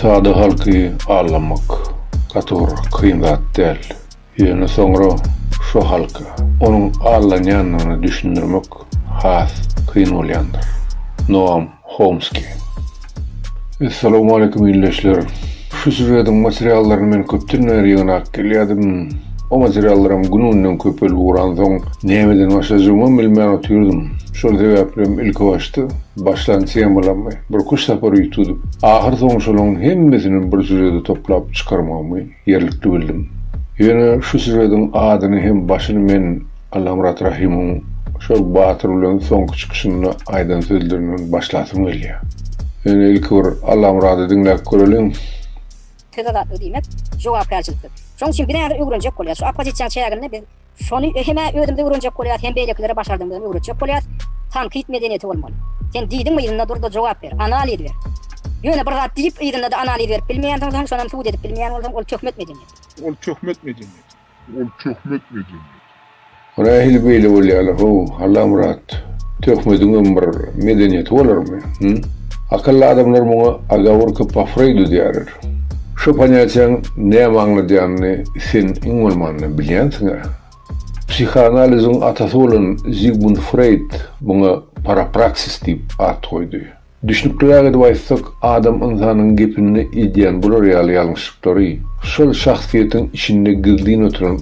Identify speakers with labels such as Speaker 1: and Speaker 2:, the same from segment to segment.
Speaker 1: Sada halky aldamak gaty bir kyn zat däl. Ýöne soňra şo halka onuň aldanýandygyny düşündirmek has kyn bolýandyr. Noam Homski. Essalamu aleýkum ildeşler. Şu sýužediň materiallaryny men köpden bäri ýygnap gelýärdim. O materiallaram gün-günden köpelip ugransoň, nämeden başlajagymam bilmän otyrdym. Şol sebäplem ilkibaşda başlan temalarmy, bir kuş sapar üýtgedip, ahyrsoňy şolaryň hemmesini bir sýužede toplap çykarmagymy Ýerlikli bildim. Ýöne şu sürediň adyny hem başyny men Allamyrat Rahymyň şol batyr bilen soňky çykyşynda aýdan sözlerinden başlasym gelýär. Ýöne ilki bir Allamyrady diňläp göreliň. Tyz
Speaker 2: azatlyk diýmek jogapkärçilikdir. Şonuň üçin biräder öwrenjek bolýas. Şu oppozisiýaň çäginde biz Şony hem-ä özümizde öwrenjek bolýas, hem beýlekilere başardygymyzam öwretjek bolýas. Tankyt medeniýeti bolmaly. Sen diýdiňmi yzynda dur-da jogap ber, analiz ber. Ýöne bir zat diýip yzynda-da analiz berip bilmeýänsiňsoň, şonam sud edip bilmeýän bolsaň, ol töhmet medeniýeti. Ol töhmet medeniýeti.
Speaker 3: Ol töhmet medeniýeti.
Speaker 1: Rahil beýle bolýaly how, Allamyrat, töhmediňem bir medeniýeti bolarmy, hym? Akylly adamlar muňa agawurka pafreydu diýerler. Şu ponýatiýaň näme aňladýanyny sen iň bolmanda bilýänsiň-ä. Psihoanaliziň atasy bolan Zigmund Freýd muňa parapraksis diýip at goýdy. Düşnükliräk edip aýtsak, adam ynsanyň gepinde edýän bular ýaly ýalňyşlyklary şol şahsyýetiň içinde gizlin oturan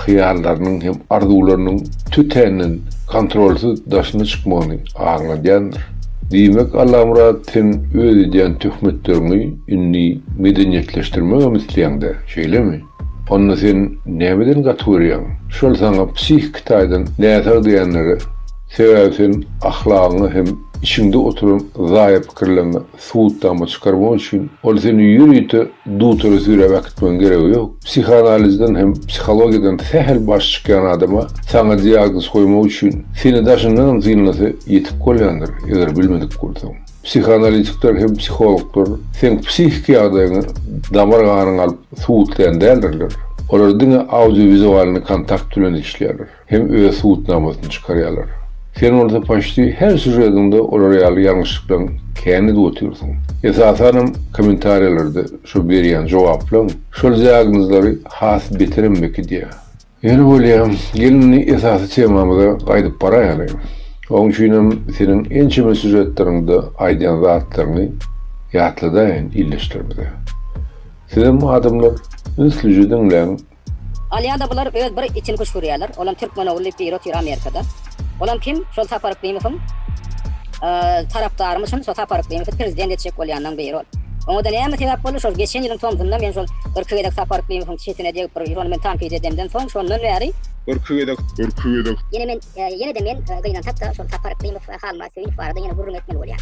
Speaker 1: hyýallarynyň hem arzuwlarynyň tötänden kontrolsyz daşyna çykmagyny aňladýandyr. Diýmek, Allamyrat, sen öz edýän töhmetleriňi indi medeniýetleşdirmegem isleýäň-dä, şeýlemi? Onda sen nämeden gaty görýäň? Şol saňa psihiki taýdan näsag diýenleri? Sebäbi sen ahlagyňa hem içiňde oturan zaýa pikirleriňe Suwutdanba çykarmak üçin ol seni ýörite dutora süräp äkitmegiň geregi ýok. Psihanalizden hem psihologiýadan sähel baş çykýan adama saňa diagnoz goýmak üçin seni daşyndanam synlasa ýetik bolýandyr, eger bilmedik bolsaň. Psihanalitikler hem psihologlar seň psihiki ýagdaýyňy damar ganyňy alyp suwutlaýan däldirler. Olar diňe audio-wizualnyý kontakt bilen işleýärler. hem öz subutnamasyny çykarýarlar. Sen bolsa paçti her sýužediňde olar ýaly ýalňyşlyklaň kän edip otyrsyň. Esasanam kommentariýalarda şo berýän jogaplaň şol diagnozlary has beterem bekidýär. Ýöne bolýa, gel indi esasy temamyza gaýdyp baraýaly. Oň üçinem seniň ençeme sýužetleriňde aýdýan zatlaryňy ýatladaýyn ildeşlerimize. Sizem adamlar ünslice diňläň Alýada
Speaker 2: bular öz bir içini küşgürýärler, olam türkmen ogly diýip biri otyr Amerikada. Olam kim? Şol Sapar Yklimowyň tarapdarymyşyn, şo Sapar Yklimowy prezident etjek bolýanlaň biri ol. Oňada näme sebäp boldy? Şol geçen ýylyň tomsunda men şol irki gezek Sapar Yklimowyň çetine degip bir ýyl ony men tankyt edemden soň şondan bäri, Irki gezek.
Speaker 3: Ýene men,
Speaker 2: ýene-de men gynansak-da şol Sapar Yklimow we Halmyrat Söýünow barada ýene gürrüň etmeli bolýan.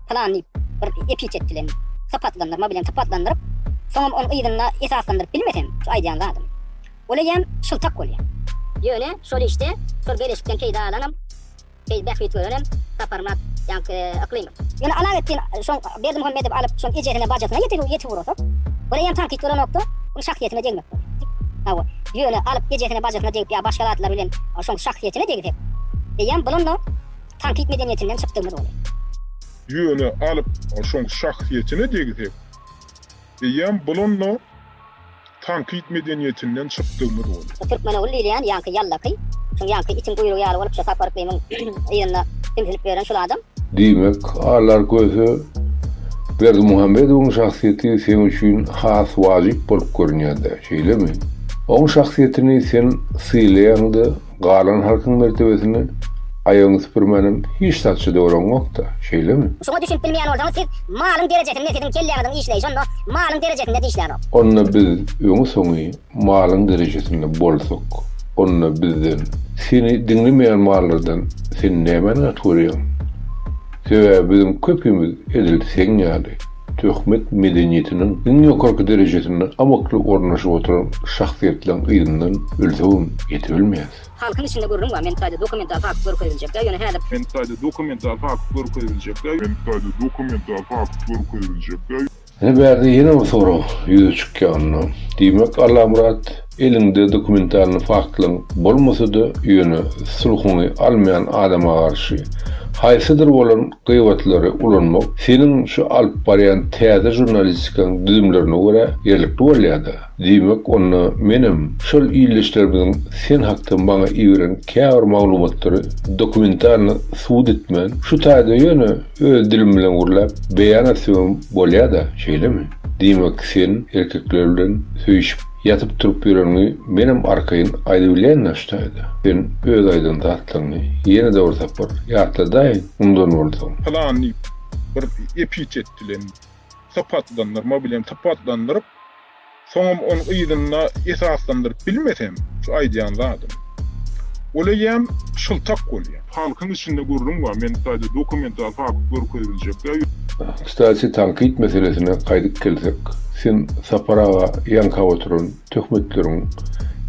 Speaker 2: plan diýip, bir epitet bilen sypatlandyrma bilen sypatlandyryp, soňam ony yzynda esaslandyryp bilmesem, şu aýdýan zadym, ol eýýäm şyltak bolýar. Ýöne şol işde, şol beleşikden peýda alanam, peý, bähbit görenem Saparmyrat ýaňky Yklymow. Ýöne Alawetdin şoň Berdimuhamedowy alyp, şoň ejesine, bajasyna ýetip, ýetip urasak, ol eýýäm tankyt bolanokda, onuň şahsyýetine degmek bolýar. Hawa, ýöne alyp ejesine, bajasyna degip ýa başga zatlar bilen şoň şahsyýetine degsek, eýýäm bulam-da, tankyt medeniýetinden çykdygymyz boldy. Ýöne
Speaker 3: alyp şoň şahsyýetine degsek, eýýäm bulan-da tankyt medeniýetinden çykdygymyz boldy. Bu türkmen ogul diýilýän ýaňky
Speaker 2: ýallaky, şuň ýaňky itiň guýrugy ýaly bolup şo Sapar yklymyň yzynda simsinip ýören şul adam. Diýmek, Alar
Speaker 1: Köse Berdimuhamedowyň şahsyýeti seň üçin has wajyp bolup görünýär-dä, şeýlemi? Oň şahsyýetini sen sylaýaň-da, Galan halkyň mertebesini aýagyňy süpürmänem hiç zatça doraňokda, şeýlemi? Şuňa düşünip bilmeýän bolsaňyz
Speaker 2: siz malyň derejesinde siziň kelläňiziň işleýşi onda malyň derejesinde dişlänok. Onda biz
Speaker 1: öňi soňy malyň derejesinde bolsak onda bizden seni diňlemeýän mallardan sen nämäni gaty görýäň? Sebäbi biziň köpimiz edil seň ýaly. Töhmet medeniýetiniň iň ýokarky derejesinde amakly ornaşyp oturan şahsyýetleň yzyndan ölsegem ýetibilmeýäs. Halkyň içinde gürrüň
Speaker 2: bar, meniň taýda dokumental fakt görkeziljekler, ýöne häzir. Meniň taýda dokumental
Speaker 3: fakt görkeziljekler. Meniň taýda dokumental fakt
Speaker 1: görkeziljekler. Ine bärde ýene bir sorag ýüze çykýanynda, diýmek Allamyrat. Eliňde dokumentalny faktlaň bolmasa-da, ýöne sulhuňy almaýan adama garşy haýsydyr bolan gybatlary ulanmak seniň şu alyp barýan täze žurnalistikaň düzümlerine görä ýerlikli bolýa-da. Diýmek, onda menem şol ildeşlerimiziň sen hakda maňa iberen käbir maglumatlary dokumentalny subut etmän, şu taýda ýöne öz dilim bilen gürläp beýan etsegem bolýa-da, şeýlemi? Diýmek, sen erkekler bilen söýüşip. Ýatyp turup ýöreniňi menem arkaýyn aýdybilýän daşdaýda. Sen öz aýdan zatlaryňy ýene-de bir sapar ýatladaýyň mundan bolsa. Pylan diýip
Speaker 3: bir epitet bilen sypatlandyrma bilen sypatlandyryp, soňam onuň yzynda esaslandyryp bilmesem şu aýdýan zadym. Ol eýýäm şyltak bolýar. Halkyň içinde gürrüň bar, men taýda dokumental fakt görkeziljek ýa. Kstati
Speaker 1: tankyt meselesine gaýdyp gelsek, sen Sapar aga ýaňkap oturan töhmetleriň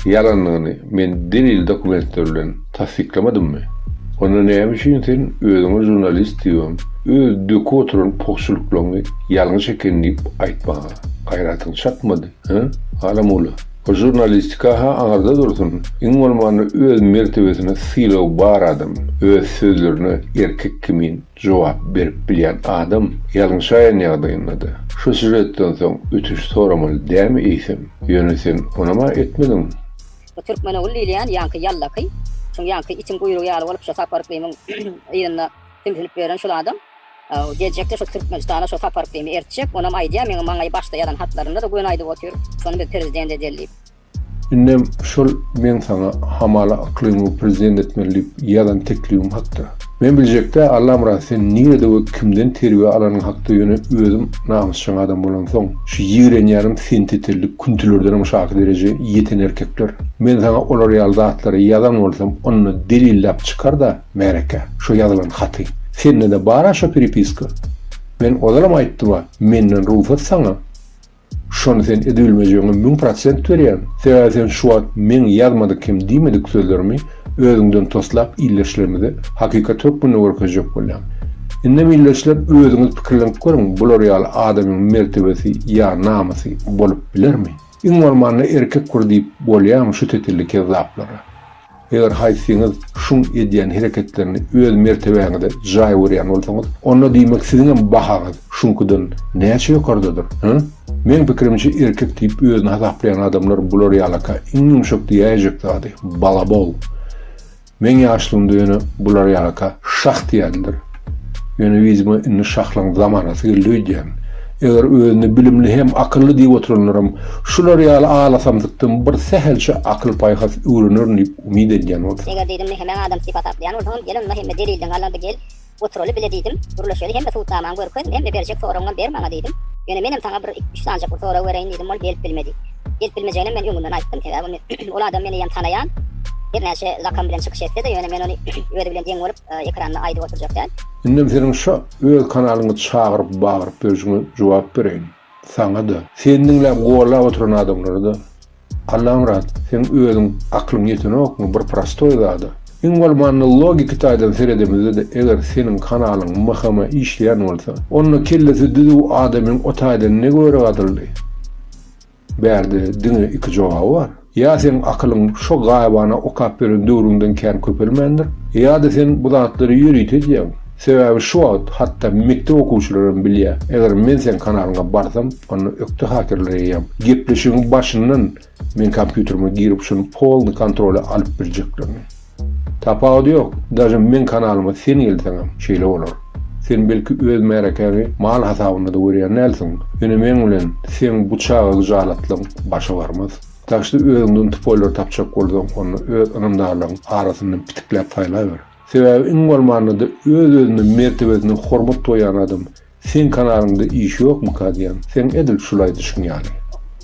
Speaker 1: ýalandygyny men delil dokumentler bilen tassyklamdymmy? Onda näme üçin sen özüňe žurnalist diýibem, öz döküp oturan pugçulyklaňy ýalňyş eken diýip aýtmaga gaýratyň çatmady, he, Alamgula? Bu žurnalistika-ha aňyrda dursun, iň bolmanda öz mertebesine sylagy bar adam, öz sözlerine erkek kimin jogap berip bilýän adam ýalňyşaýan ýagdaýynda-da, şu sýužetden soň ötünç soramaly dämi eýsem? Ýöne sen onam-a etmediň. Bu Türkmenogul
Speaker 2: diýilýän ýaňky ýallaky, şuň ýaňky itiň guýrugy ýaly bolup şo Sapar yklymyň yzynda sümsülip ýören şul adam. Geljekde şu Türkmenistana şu sapar kimi ertjek, onam aýdýa meň maňa başda ýazan hatlarynda-da göni aýdyp otyr, şony biz prezident edeli diýip. Indem
Speaker 1: şol meň saňa Hamala Yklymowy prezident etmeli diýip ýazan teklibim hakda. Men biljekdä Allamyrat sen nirede we kimden terbiýe alanyň hakda ýöne özüm namysjaň adam bolansoň şu ýigrenýänim sentetelli küntülerdenem şaky dereje ýeten erkekler. Men saňa olar ýaly zatlary ýazan bolsam onda delilläp çykar-da. Märeke, şo ýazylan haty. Sende-de bar-a şo pripiska? Men ozalam aýtdym-a, menden rugsat saňa. Şony sen edübilmejegiňe müň prosent berýän. Sebäbi sen şu wagt meň ýazmadyk hem diýmedik sözlerimi özüňden toslap ildeşlerimize hakykat hökmünde görkezjek bolýaň. Indem ildeşler özüňiz pikirlenip görüň, bular ýaly adamyň mertebesi ýa namysy bolup bilermi? Iň bolmanda erkek bir diýip bolýamy şu tetelli kezzaplara? Eger haýsyňyz şuň edýän hereketlerini öz mertebäňize jaý görýän bolsaňyz, onda diýmek siziňem bahaňyz şuňkydan näçe ýokardadyr, hä? Meň pikirimçe erkek diýip özüni hasaplaýan adamlar bular ýalaka iň ýumşak diýäýjek zady, balabol. Meň ýaşlygymda ýöne bular ýalaka şah diýerdiler. Ýöne yzyma indi şahlygyň zamanasy geldi öýdýän. Eger özüni bilimli hem akylly diýip oturanlaram şular ýaly alasamsykdan bir sähelçe akyl-paýhas öwrenerin diýip umyt edýän bolsa. Eger diýdim, mehemäň adamsy diýip
Speaker 2: hasaplaýan bolsaňam, gel onda hemme delilden galandy gel, oturaly bile diýdim. Gürleşeli hemme subutnamaňy görkez, hemme berjek soragyňam ber maňa diýdim. Ýöne menem saňa bir iki-üç sanjak bir sorag bereýin diýdim, ol gelip bilmedi. Gelip bilmejeginem men öňünden aýtdym, sebäbi ol adam meni eýýäm tanaýan. Hernäçe zakam bilen çykyş etse-de, ýöne men ony özi bilen deň bolup, ekranda aýdyp oturjak däl. Indem seniň şo
Speaker 1: öz kanalyňy çagyryp bagyryp berşiňe jogap bereýin. Saňa-da, seni diňläp gollap oturan adamlara-da. Allamyrat, seň özüň aklyň ýetenokmy bir prostoý zada? Iň bolmanda logiki taýdan seredemizde-de eger seniň kanalyň mhma işleýän bolsa, onda kellesi düzüw adamyň o taýdan ne göri gadyldy? Bärde diňe iki jogaby bar. Ýa seň akylyň şo gaýybana okap beren döwrüňden kän köpelmändir, ýa-da sen bu zatlary ýörite edýäň. Sebäbi şu wagt hatda mekdep okuwçylaram bilýä, eger men seň kanalyňa barsam, onda ökde hakerler eýýäm. Gepleşigiň başyndan men kompýuterime girip şuny polny kontrola alyp birjeklerini. Tapawudy ýok, daže meň kanalyma sen gelseňem şeýle bolar. Sen belki öz märekäňi mal hasabynda-da görýän dälsiň, ýöne meň bilen seň bu çaga gyjalatlygyň başa barmaz. Dažde özüňden tupoýlary tapjak bolsaň onda öz ynamdarlaryň arasyndan pitikläp saýlaber. Sebäbi iň bolmanda-da öz-özüne mertebesine hormat goýýan adam Seň kanalyňda iş ýokmyka diýýän. Seň edil şulaý düşüň ýaly.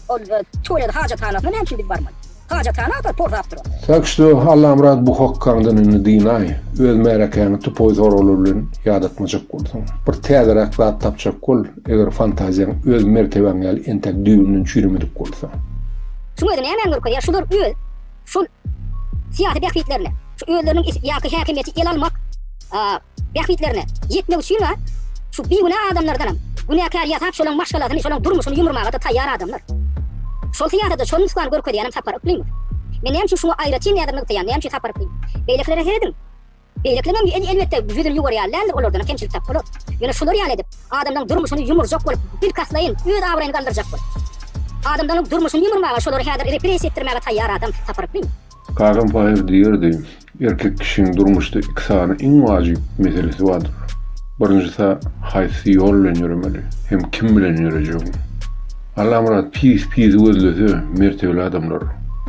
Speaker 1: Ol
Speaker 2: tualet hajathanasyna näme üçin biz barmaly? Hajathana agtar porzap dur ol. Tak što Allamyrat
Speaker 1: bu hokkaňdan indi dynaý. Öz märekäňi tupoý soraglar bilen ýadatmajak bolsaň. Bir täzeräk zat tapjak bol, eger fantaziýaň öz mertebäň ýaly entäk düýbünden çüýremedik bolsa. Şuň özi
Speaker 2: nämäni görkezýär, şular öz. şul syýasy bähbitlerine, şu özleriniň is ýa häkimiýeti ele almak bähbitlerine ýetmek üçin-a şu bigünä adamlardanam günäkär ýasap şolaň maşgalasyny, şolaň durmuşyny ýumurmaga-da taýýar adamlar. Şol syýasata şol nusgany görkezýänem Sapar Yklymow. Men näme üçin şuňa aýratyn näzir nygtaýan, näme üçin Sapar Yklymow? Beýlekilere serediň. Beýleklerem elbetde ýüzüni ýuwurýar, läldir olardanam kemçilik tapmalyk. Ýöne şular ýaly edip, adamlaň durmuşyny ýumurjak bolup, bilkastlaýyn, öz abraýyny galdyrjak bolup. Adamlaň durmuşyny ýumurmaga şolary häzir repressiýa etdirmäge taýýar adam taparypmy? Kakam Paýhas
Speaker 1: diýerdi, Erkek kişiň durmuşda iki sany iň wajyp meselesi bardyr. Birinjisi, haýsy ýol bilen ýöremeli hem kim bilen ýörejegiň. Allamyrat pis pisi gözlese, mertebeli adamlar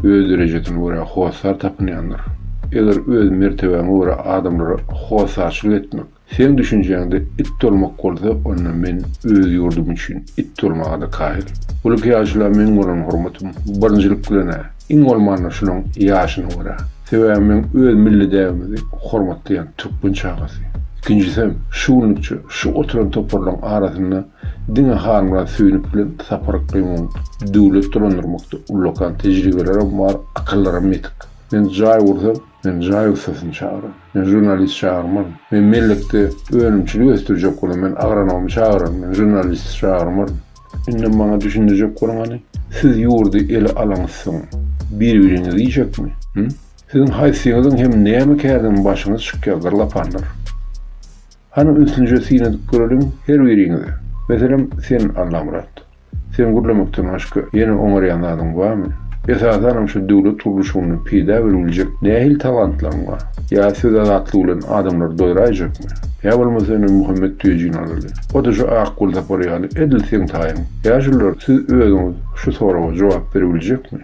Speaker 1: öz derejesine görä hossar tapynýandyr. Eger öz mertebäňe görä adamlara hossarçylyk etmek, seň düşünjäňde it dolmak bolsa, onda men öz ýurdum üçin it dolmaga-da kaýyl. Bu lykýaçyla meň bolan hormatym, birinjilik bilen-ä, iň bolmanda şunuň ýaşyna görä. Sebäbi meň öz milli däbimizi hormatlaýan türkmen çagasy. Ikinjisem, şu günlükçe şu oturan toparlaryň arasynda Diňe Halmyrat Söýünow bilen Sapar Akgöýüňiň döwlet dolandyrmakda ullakan tejribelerem bar, akyllarem ýetik. Men jaý gursam, men jaý ussasyny çagyran. Men žurnalist çagyrmaryn. Men mellekde önümçilik ösdürjek bolam, men agronomy çagyraryn, men žurnalisti çagyrmaryn. Indi maňa düşündirjek boluň hany, siz ýurdy ele alaňyzsoň, bir-biriňizi iýjekmi? Hü? Siziň haýsyňyzyň hem näme kärden başyňyz çykýar, gyrlapanlar? Hany ünsünje syn edip göreliň her biriňize. Meselem sen Allamyrat. Sen gürlemekden başga ýene oňarýan zadyň barmy? Esasanam şu döwlet gurluşygynda peýda beribiljek nähili talantlaň bar? Ýa söz azatlygy bilen adamlary doýraýjakmy? Ýa bolmasa indi Muhammet Tüýejini alaly. O-da şu Ak gul sapary ýaly edil seň taýyň. Ýaşulylar siz özüňiz şu soraga jogap beribiljekmi?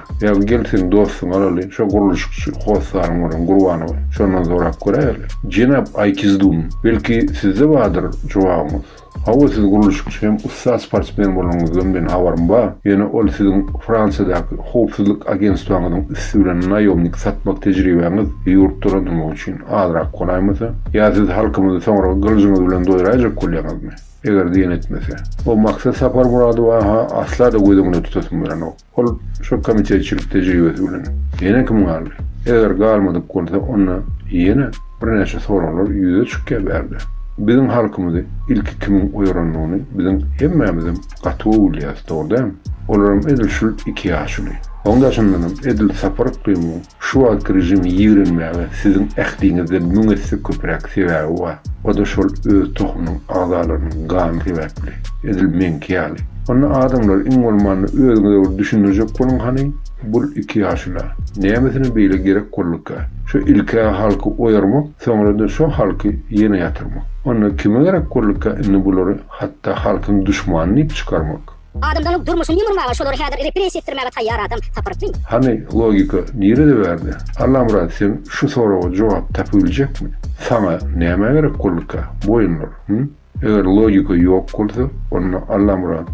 Speaker 1: Ýa gel seň dostuňy alaly, şo gurluşykçy hossary bolan Gurbanowy, şondan sorap göräýeli. Jenap Aýkizdum, belki sizde bardyr jogabyňyz? Hawa, siz gurluşykçy hem ussat sportsmen bolanyňyzdan meniň habarym bar. Ýöne ol siziň Fransiýadaky howpsuzlyk agentstwaňyzyň üsti bilen naýomnik satmak tejribäňiz ýurt dolandyrmak üçin azrak golaýmasa? Ýa siz halkymyzy soňra gylyjyňyz bilen doýraýjak bolýaňyzmy? Eger diýen etmese. O Maksat Saparmyradowa-ha asla-da göz öňünde tutasym gelenok. Ol şo komitetçilik tejribesi bilen ýene kim galdy? Eger galmadyk bolsa, onda ýene birnäçe soraglar ýüze çykýar bärde. Biziň halkymyzy ilki kimiň oýarandygyny biziň hemmämizem gaty gowy bilýäris, dogry dämi? Olaram edil şul iki ýaşuly. Oň daşyndanam edil Sapar Yklymyň Şu wagtky režimi ýigrenmäge siziň ähliňizden müň esse köpräk sebäbi bar. O-da şol öz tohumynyň agzalarynyň gany sebäpli. Edil meňki ýaly. Onda adamlar iň bolmanda özüňize bir düşündirjek boluň hany, bul iki ýaşula, nämesine beýle gerek bolduka? Şu ilk-ä halky oýarmak, soňra-da şo halky ýene ýatyrmak. Onda kime gerek bolduka indi bulary hatda halkyň duşmany diýip çykarmak? Adamzanyň durmuşyny
Speaker 2: ýumurmaga şolary häzir repressiýa etdirmäge taýýar adam taparykmy? Hany logika
Speaker 1: nirede bärde? Allamyrat sen şu soraga jogap tapybiljekmi? Saňa näme gerek bolduka boýunlar hym? Eger logika ýok bolsa onda Allamyrat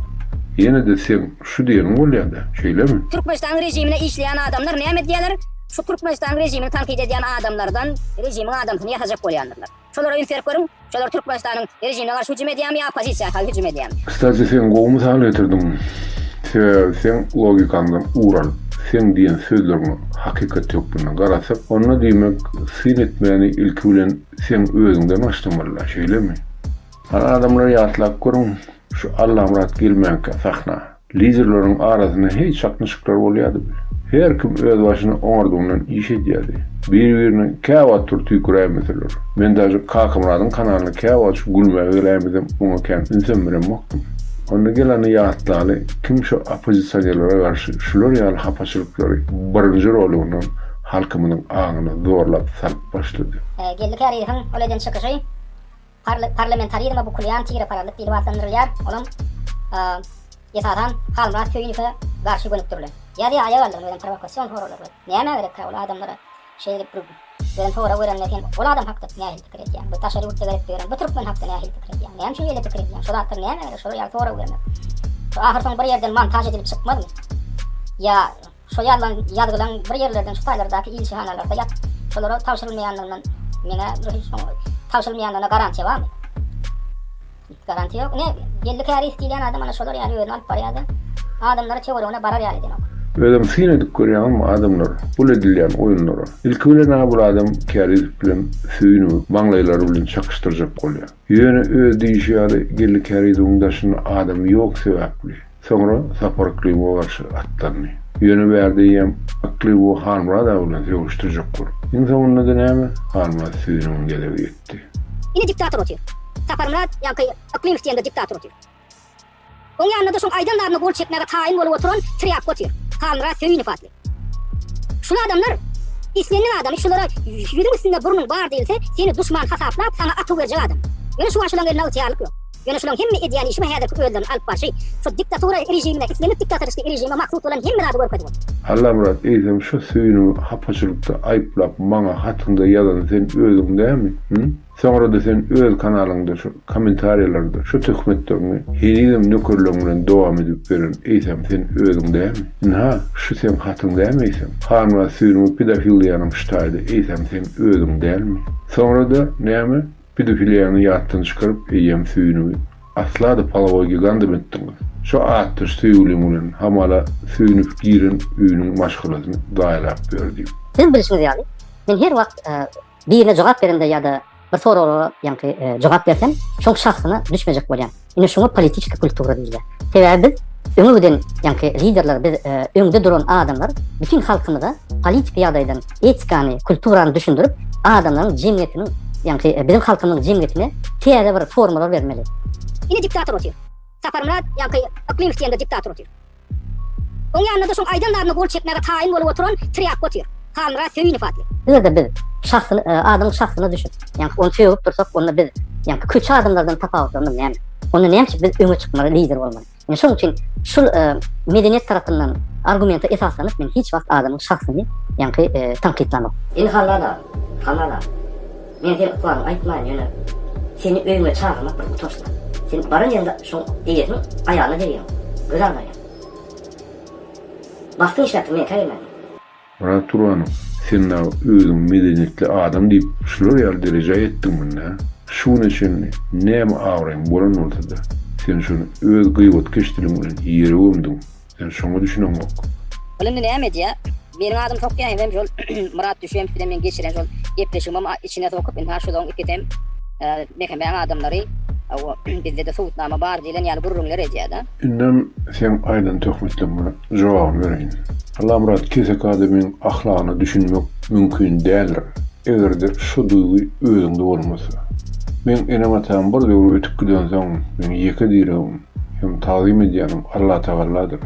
Speaker 1: ýenede seň şu diýeniň bolýada şeýlemi? Türkmenistanyň rejimine
Speaker 2: işleýän adamlar näme edýäler? Şu Türkmenistanyň rejimini tankyt edýän adamlardan rejimiň adamsyny ýasajak bolýandyrlar. Şolara ýüz berip görüň, şolar Türkmenistanyň rejimine garşy hüjüm
Speaker 1: edýärmi ýa oppozisiýa garşy hüjüm edýärmi? Kstati sen gowy mysal getirdiň. Sebäbi seň logikaňdan ugur alyp, seň diýen sözleriňe hakykat hökmünde garasak, onda diýmek syn etmäni ilki bilen seň özüňden başlamalylar, şeýlemi? Hany adamlar ýatlap görüň şu Allamyrat gelmänkä sahna. Liderleriň arasynda heý çaknyşyklar bolýardy bil. Her kim öz başyny oňardygyndan iş edýärdi. Bir-birine käwagt bir tüýküräýmeseler. Men daže Kakamyradyň kanalyna käwagt şu gülmäge geläýmesem oňa kän ünsem beremokdym. Onda gelany ýatlaly kim şu oppozisionerlere garşy şular ýaly hapaçylyklary birinji roligyndan halkymyzyň aňyna zorlap salyp başlady. Geldi käriydihiň
Speaker 2: ol eden çykyşy. Parlamentarizme bukulýan tirepararlyk diýlip atlandyrylýar, olam, esasan, Halmyrat Söýünowe garşy gönükdirilen. Ýa-da aýagaldygyny berýän prowokasion soraglar bilen. Nämä gerekkä ol adamlara şeýdip bir beren sorag berende sen ol adam hakda nähili pikir edýäň? Bu daşary ýurtda gezip ýören bu türkmen hakda nähili pikir edýäň? Näme üçin şeýle pikir edýäň? Şo zatlar nämä gerek şolar ýaly sorag bermek? Ahyr soňy bir ýerden montaž edilip çykmazmy? Ýa Şo ýazlan ýazgylaň bir ýerlerden şu taýlardaky ilçihanalarda ýatyp, şolara tabşyrylmaýanlygyndan meňä bir hiç soň tabşyrylmaýanlygyna garantiýa barmy? Garantiýa ýok. Ine, belli käris diýilýän adam ana şolar ýaly özüni alyp barýar-da, adamlary töweregine barar ýaly edenok. Özem syn edip
Speaker 1: görýäňizmi adamlar bul edilýän oýunlara? Ilki bilen-ä bul adam käriz bilen söýüniňi maňlaýlary bilen çakyşdyrjak bolýar. Ýöne öz diýişi ýaly gelli käriziň daşynda adam ýok sebäpli. Soňra Sapar Yklybowa garşy atlandy. Ýöne bärde eýýäm Yklybow Halmyrat aga bilen söweşdirjek bolup. Iň soňunda-da näme, Halmyrat süýüniň gezegi ýetdi. Ine diktator
Speaker 2: otyr. Saparmyrat ýaňky Yklymow diýende diktator otyr. Oň ýanynda-da şoň aýdan zadyna gol çekmäge taýyn bolup oturan trýapka otyr. Halmyrat Söýünow atly. Şul adamlar islendik adamy şulara ýüzüň üstünde burnuň bar diýilse seni duşman hasaplap saňa atuw berjek adam. Ýöne şu aşulaň elinde ygtyýarlyk ýok. Ýöne şulaň hemme edýän işi we häzirki özlerini alyp barşy şu diktatura režimine islendik diktatoristiki režime mahsus bolan hemme zady görkezip otyr. Allamyrat eýsem
Speaker 1: şu süýnüňi hapaçylykda aýyplap maňa hatyňda ýazan sen özüň dämi? Hym? Soňrada sen öz kanalyňda şu komentariýalarda şu töhmetlerini henizem nökerleň bilen dowam edip beren eýsem sen özüň dämi? Ynha şu seň hatyň dämi eýsem? Hanwa süýnüňi pedofiliýanyň ştaýdy eýsem sen özüň dälmi? Soňrada näme pedofiliýany ýatdan çykaryp eýýäm süýnüňi asla-da polowoý gigandam etdiňiz. Şu atdaş söýgüliň bilen hamala süýnüp giren öýüniň maşgalasyny zaýalap ýör diýip. Siziň bilşiňiz ýaly
Speaker 2: men her wagt Birine jogap berende ýa-da bir soraglara ýaňky jogap berseň, şoň şahsyna düşmejek bolýaň. Ine şuňa politiki kultura diýilýär. Sebäbi biz öňe giden ýaňky liderler biz öňde duran adamlar bütin halkymyza politiki ýagdaýdan etikany, kulturany düşündirip, adamlaryň jemgyýetiniň ýaňky biziň halkymyzyň jemgyýetine täze bir formalar bermeli. Ine diktator otyr. Saparmyrat ýaňky yklym isleýände diktator otyr. Oň ýanynda-da şoň aýdanlaryna gol çekmäge taýyn bolup oturan trýapka otyr. Halmyrat Söýünow atly. Eger-de biz şahsyny, adamyň şahsyna düşüp, ýagny ony sögüp dursak, onda biz, ýagny pikirçi adamlardan tapawutlarymyz näme? Onda näme üçin biz öňe çykmaly, lider bolmaly? Ine şonuň üçin şul medeniýet tarapyndan argumente esaslanyp men hiç wagt adamyň şahsyny, ýagny tankytlamok. Indi Halmyrat aga, Halmyrat aga. Men seni ykbalyňy aýtmaýyn, ýöne seni öýüňe çagyrmak bir utançdyr.
Speaker 1: Sen baran ýeriňde şoň eýesiniň aýalyna degýäň, göz agdarýaň. Bagtyň işläpdir, meňkä gelmändi. Myrat Turbanow, sen dagy özüňi medeniýetli adam diýip, şular ýaly derejä ýetdiň munda. Şu güne çenli näme abraýyň bolan bolsady, sen şony öz gybetkeş diliň bilen ýere gömdüň. Sen şoňa düşüneňok. Ol indi näme
Speaker 2: edýä? Meniň adymy sokýaýam hem şol Myrat Düşeýew bilen meň geçiren şol gepleşigimem içine sokup indi ha şolaň ikisem Mehemmäň adamlary bizde-de subutnama bar diýlen ýaly gürrüňler edýä-da. Indem seň
Speaker 1: aýdan töhmetleňe jogabyny bereýin. Allamyrat kesek adamyň ahlagyna düşünmek mümkin däldir, eger-de şu duýgy özüňde bolmasa. Meň enem-atam bir döwür ötüp gidensoň, meň ýeke diregim, hem tagzym edýänim Allatagalladyr.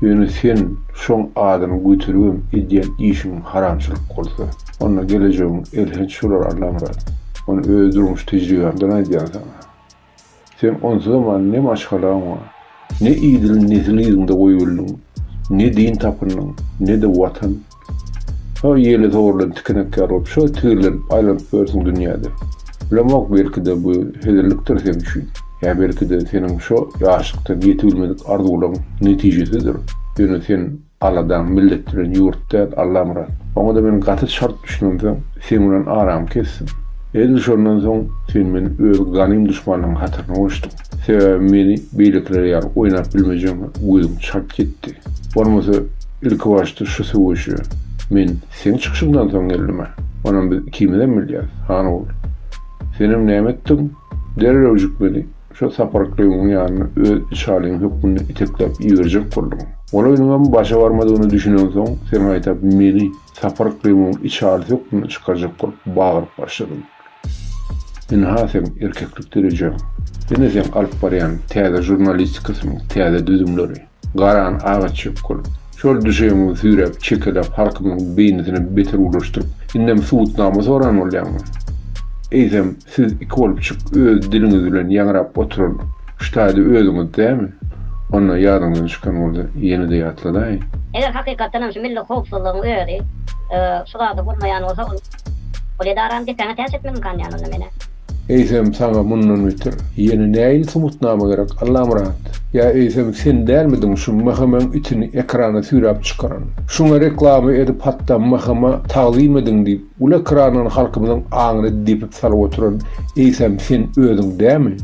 Speaker 1: Ýöne sen şoň adyny göteribem edýän işiň haramçylyk bolsa, onda gelejegiň elhenç bolar Allamyrat. Muny öz durmuş tejribämden aýdýan saňa. Sen onsuzam ne maşgalaň bar, ne idil nesil yzyňda goýubildiň, ne din tapyndyň, ne-de Watan. Şo ýeli sowrulan tikenek ýaly bolup, şo tigirlenip, aýlanyp ýörsüň dünýäde. Bilemok, belki-de, bu hezillikdir sen üçin. Ýa belki-de, seniň şo ýaşlykdan ýetibilmedik arzuwlaryň netijesidir. Ýöne sen aladaň milletdiren ýurt däl, Allamyrat. Oňa-da men gaty çalt düşünemsoň, seň bilen aramy kesdim. Edil şondan soň sen meniň öz ganym duşmanynyň hatyryna goşduň. Sebäbi meni beýlekiler ýaly oýnap bilmejegiňe gözüm çalt ýetdi. Bolmasa ilkibaşda şu söweşe men seň çykyşyňdan soň geldim-ä. Onam biz ikimizem bilýäris, Hanogul. Senem näme etdiň? Derrewjik meni şo Saparklygyň ýanyna öz içalyň hökmünde itekläp iberjek bolduň. Ol oýnuňam başa barmadygyna düşünensoň, sen gaýta meni Saparklygyň içalysy hökmünde çykarjak bolup bagyryp başladyň. Ynha seň erkeklik derejeň. Ýene seň alyp barýan täze žurnalistikasyň täze düzümleri. Garan agaç ýokgul. Şol düşegiňi süýräp çekeläp halkymyň beýnisini beter ulaşdyryp indem subutnama soran bolýaňmy? Eýsem siz iki bolupjyk öz diliňiz bilen ýaňrap oturan ştaýly özüňiz dämi? Onda ýadyňdan çykan bolsa ýene-de ýatladaýyn. Eger hakykatdanam şu milli howpsuzlygyň özi şu zady bolmaýan bolsa ol.
Speaker 2: Ol edarany depäňe täç etmek imkanyny onda menä. Eýsem saňa
Speaker 1: mundan beter ýene näin subutnama gerek Allamyrat? Ýa eýsem sen dälmidiň şu Mhmyň itini ekrana süýräp çykaran? Şuňa reklama edip hatda Mhma tagzym ediň diýip uly ekrandan halkymyzyň aňyny depip salyp oturan eýsem sen özüň dämi?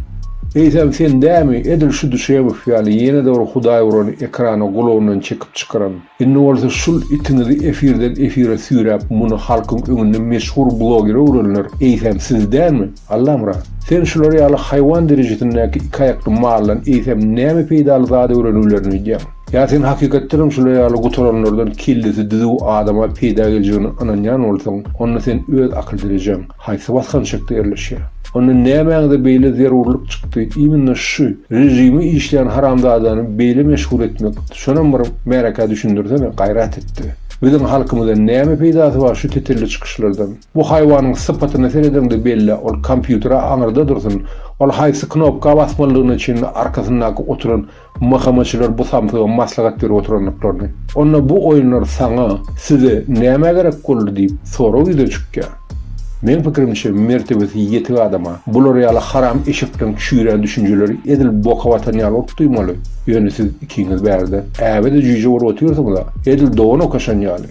Speaker 1: Eýsem sen dämi edil şu Duşemow ýaly ýene-de bir hudaý urany ekrana gulagyndan çekip çykaran? Indi bolsa şul itiňizi efirden efire süýräp muny halkyň öňünde meşhur blogere öwrenler eýsem siz dälmi? Allamyrat! Sen şular ýaly haýwan derejesindäki iki aýakly maldan eýsem näme peýdaly zat öwreniwlerini öýdýäň? Ýa sen hakykatdanam şular ýaly gutaranlardan kellesi düzüw adama peýda geljegine ynanýan bolsaň, onda sen öz akyl derejeň, haýsy basgançakda ýerleşýär? Onda nämäňize beýle zerurlyk çykdy, immnna şu režimi işleýän haramzadany beýle meşhur etmek, şonam bir märekä düşündirsene, gaýrat etde. Biziň halkymyza näme peýdasy bar şu tetelli çykyşlardan? Bu haýwanyň sypatyna seredeňde belle, ol kompýutere aňyrda dursun, ol haýsy knopka basmalydygyna çenli arkasyndaky oturan Mahamaçylar bu samsyga maslahat berip oturandyklaryny, onda bu oýunlar saňa, size nämä gerek boldy diýip sorag ýüze çykýar. Meň pikirimçe, mertebesi ýetik adama bular ýaly haram eşekden çüýrän düşünjeleri edil boka batan ýaly bolup duýmaly, ýöne siz ikiňiz bärde äbe-de jüýje bolup otyrsyňyz-a, edil dogan okaşan ýaly.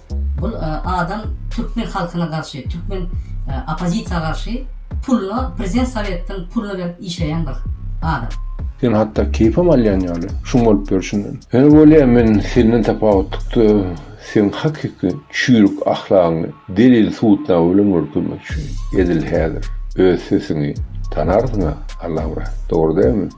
Speaker 4: Bul adam türkmen halkyna garşy türkmen opozisiýa garşy puluna prezident sowetden puluna berip işleýän bir adam. Sen hatda
Speaker 1: keýpem alýan ýaly şuň bolup ýörşünden. Ýöne bolýa men senden tapawutlykda seň hakyky çüýrük ahlagyňy delil subutnama bilen görkezmekçi edil häzir öz sesiňi tanarsyňa Allahuran dogry dälmi?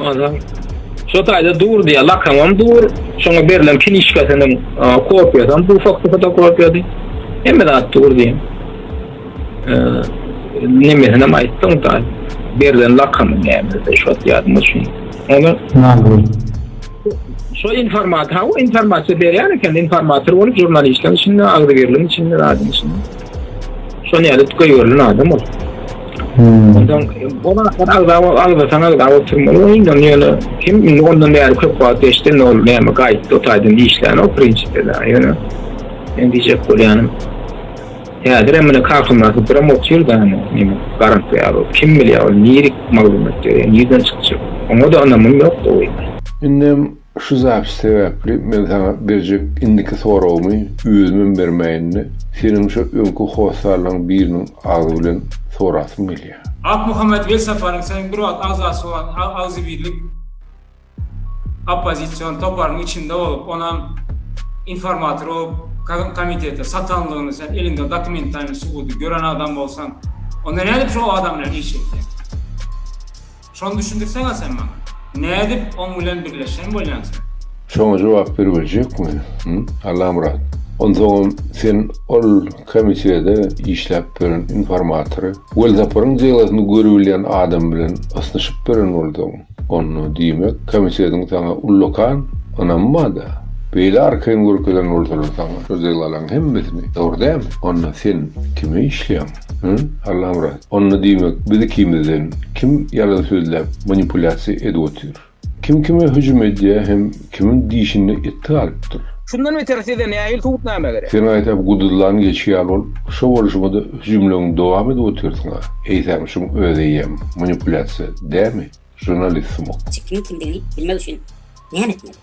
Speaker 5: Aha. Şu taýda dur diýýär, lakamam dur, şoňa berlen knişkasynyň kopiýasam bu fakty fotokopiýady. Hemme zat dur diýýär. Nemesinem aýtdyň da, berlen lakamy nämesi, şo ýadyma düşmedi. Ony Nazgül. Şo informator, ha o informator berýän eken, informator bolup, žurnalistler içinde, agzybirligiň içinde, zadyň içinde. Şony alyp göýberlen adam ol. Hmm. Ondan bu wagtlar agzawa agzatan agzawa oturmaly we indi ýöne kim indi ondan bäri köp wagt geçdi indi ol näme gaýtdy o taýdan işlän o prinsipe da ýöne men diýjek bolýanym häzir hem mine kakymdaky bir hem otyr da näme garant ýaly kim bilýär ol nirik maglumat ýöne nirden çykjak oňa da ynamym ýok da indi
Speaker 1: Şu zapis sebäpli men saňa berjek indiki soragymy özümem bermäýin-de, seniň şo öňki hossarlaň biriniň agzy bilen sorasym gelýär. Akmuhammet
Speaker 6: Welsaparyň soň bir wagt agzasy bolan agzybirlik oppozision toparynyň içinde bolup, onam informator bolup komitete satanlygyny sen eliňde dokumentalnyý subudy gören adam bolsaň, onda nädip şo adam bilen iş etýäň? Şony düşündirseň a sen maňa.
Speaker 1: Nädip oň bilen birleşen bolýaň sen? Şoňa jogap berip biljekmi, hym, Allamyrat? Onsoňam sen ol komitiýada işläp beren informatory Welsaparyň delasyny görübilýän adam bilen ysnyşyp beren bolduň. Onda, diýmek, komitetiň saňa ullakan ynamy bar-da. Beýle arkaýyn görkezen bolsalar saňa şu delalaryň hemmesini, dogry dälmi? Onda sen kime işleýäň? Hä, Allamyrat, onda diýmek biz ikimizden kim ýalan sözläp manipulýasiýa edip otyr? Kim kime hüjüm edýär hem kimiň dişinde it galypdyr? Şundan beter size
Speaker 5: nähili subutnama gerek? Sen aýtap guduzlan
Speaker 1: geçi ýaly bolup, şo bolşuňada hüjümleňi dowam edip otyrsyň-a. Eýsem şuň özeýem manipulýasiýa dämi, žurnalist sumak? Siz kimiň kimdigini
Speaker 2: bilmek üçin näme etmeli?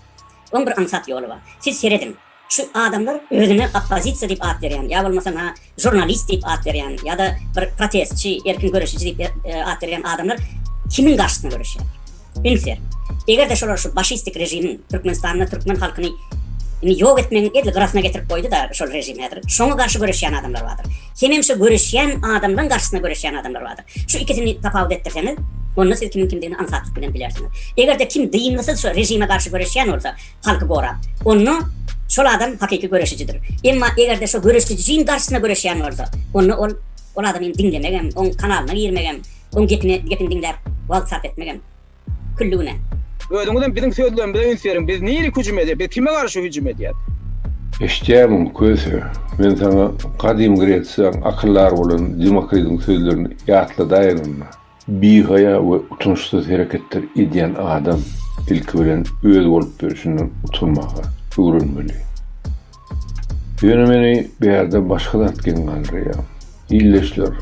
Speaker 2: Oň bir aňsat ýoly bar. Siz serediň, Şu adamlar özüne oppozisiýa diýip at berýän, ýa bolmasa na žurnalist diýip at berýän, ýa-da bir protestçi, erkin göreşiji diýip at berýän adamlar kimiň garşysyna göreşýär? Üns ber. Eger-de şolar şu başistik režimiň Türkmenistanda türkmen halkyny indi ýok etmegiň edil gyrasyna getirip goýdy-da şol režim häzir, şoňa garşy göreşýän adamlar bardyr. Hemem şu göreşýän adamlaryň garşysyna göreşýän adamlar bardyr. Şu ikisini tapawut etdirseňiz, onda siz kimiň kimdigini aňsatlyk bilen bilersiňiz. Eger-de kim dyngysyz şu režime garşy göreşýän bolsa, halky gorap. Onda şol adam hakyky göreşijidir. Emma eger-de şo göreşijiň garşysyna göreşýän bolsa, onda ol ol adamy diňlemek hem, oň kanalyna girmek hem, oň gepini gepini diňläp wagt sarp etmek hem külli günä. Özüňiz hem
Speaker 5: biziň sözlerimize üns beriň, biz nirik hüjüm edýäs, biz kime garşy hüjüm edýäs? Eşitýärmiň,
Speaker 1: Köse? Men saňa Gadym Gresiýaň akyldary bolan Demokritiň sözlerini ýatladaýynmyna? Bihaýa we utançsyz hereketler edýän adam ilki bilen öz bolup durşundan utanmaga öwrenmeli. Ýöne meni bärde başga zat geň galdyrýar. Ildeşler,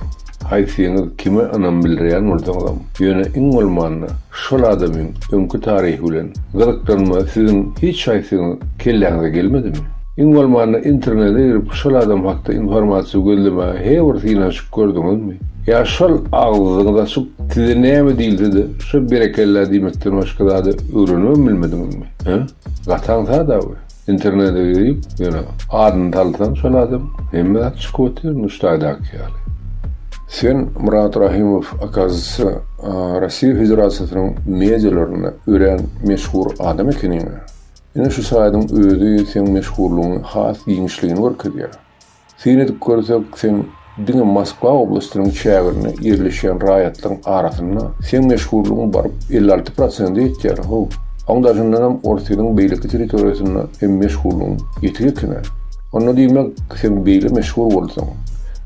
Speaker 1: haýsyňyz kime ynam bildirýän bolsaňyzam, ýöne iň bolmanda şol adamyň öňki taryhy bilen gyzyklanma siziň hiç haýsyňyz kelläňize gelmedimi? Iň bolmanda internete girip şol adam hakda informasiýa gözlemäge he bir synanyş Gördüňizmi? Ýa şol agzyňyzy açyp, size näme diýilse-de, şo berekella diýmekden başga zady öwrenibem bilmediňizmi? Hä? Gataň sada bu. Internete girip, ýöne adyny salsaň şol adam, hemme zat çykyp otyr, Nuştaýdaky ýaly. Sen, Myrat Rahymow, okazisiýa, Rossiýa Federasiýasynyň medialarynda örän meşhur adam ekeniň-ä. Ine şu saýdyň özi seň meşhurlygyňy has giňişligini görkezýär. Syn edip görsek, seň diňe Moskwa oblastynyň çäginde ýerleşýän raýatlaryň arasynda seň meşhurlygyň baryp elli alty prosente ýetýär-how. Oň daşyndanam Orsýetiň beýleki territoriýasynda hem meşhurlygyň ýetik eken-ä. Onda diýmek, seň beýle meşhur bolsaň,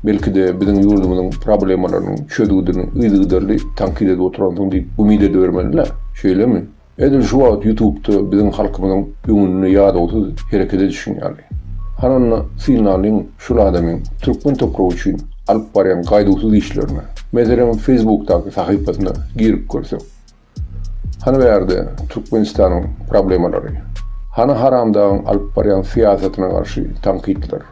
Speaker 1: belki-de biziň ýurdumyzyň problemalarynyň çözgüdini yzygiderli tankyt edip oturansyň diýip umyt edibermeli-dä, şeýlemi? Edil şu wagt ýutubda biziň halkymyzyň öňünde ýadawsyz hereket edişiň ýaly. Hananda synlalyň şul adamyň türkmen topragy üçin alyp barýan gaýduwsyz işlerine. Meselem feýsbukdaky sahypasyna girip görsek. Hany bärde Türkmenistanyň problemalary. Hany haramdagyň alyp barýan syýasatyna garşy tankytlar.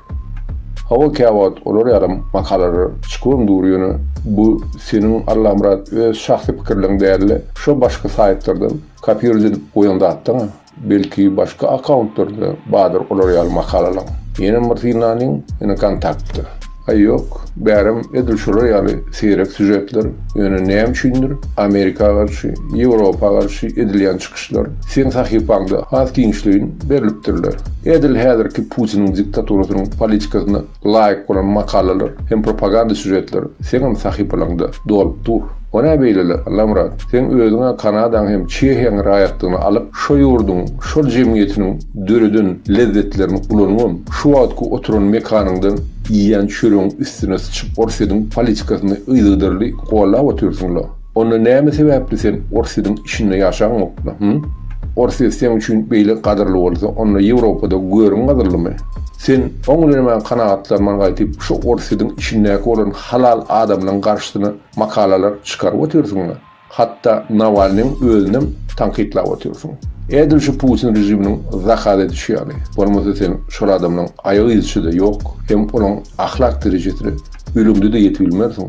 Speaker 1: Hawa käwagt olar ýalam makalalar çykyuam dur ýöne bu seniň Allamyrat öz şahsy pikirleň dälde şo başky saýtlardan kopiruje edip goýan zatdaň belki başky akauntlarda badyr olar ýaly makalalaň ýenem bir synlanyň ýene kontaktda aý ýok bärem edil şolar ýaly seýrek sýužetler ýöne näme üçindir amerika garşy ýewropa garşy edilýän Çykyşlar seň sahypaňda has giňişleýin berlipdirler. Edil häzirki Putiniň diktaturasynyň politikasyna laýyk bolan makalalar hem propaganda sýužetler seňem sahypalaňda dolup dur. O nä beýlele, Allamyrat? Seň özüň-ä Kanadaň hem Çehiýaň raýatlygyny alyp, şo ýurduň, şol jemgyýetiniň döreden lezzetlerini ulanybam, şu wagtky oturan mekanyňdan iýýän çöregiň üstüne syçyp Orsýetiň politikasyny yzygiderli gollap otyrsyň-la. Onda näme sebäpli sen Orsýediň içinde ýaşaňokda, hü? Orsýet seň üçin beýle gadyrly bolsa, onda Ýewropada görüň gadyrlymy? Sen oň bilen emä kanagatlanman gaýtyp şu Orsýediň içindäki bolan halal adamlaň garşysyna makalalar çykaryp otyrsyňda, hatda Nawalnyň özünem tankytlap otyrsyň. Edil şu Putin režiminiň zakaz edişi ýaly, bolmasa sen şol adamlaň aýak yzyçy-da ýok, hem olaň ahlak derejesine ölümde-de ýetibilmersiň.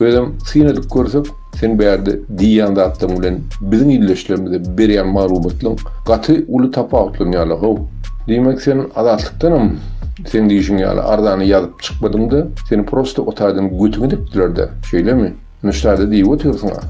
Speaker 1: Özem syn edip görsek, sen bärde diýýän zatlaryň bilen biziň ildeşlerimize berýän maglumatlaryň gaty uly tapawutlanýarlar-how. Diýmek, sen Azatlykdanam seň diýşiň ýaly arzany ýazyp çykmadyň-da, seni prosta o taýdan götüň edipdiler-dä, şeýlemi? Nuştada diýip otyrsyň-a.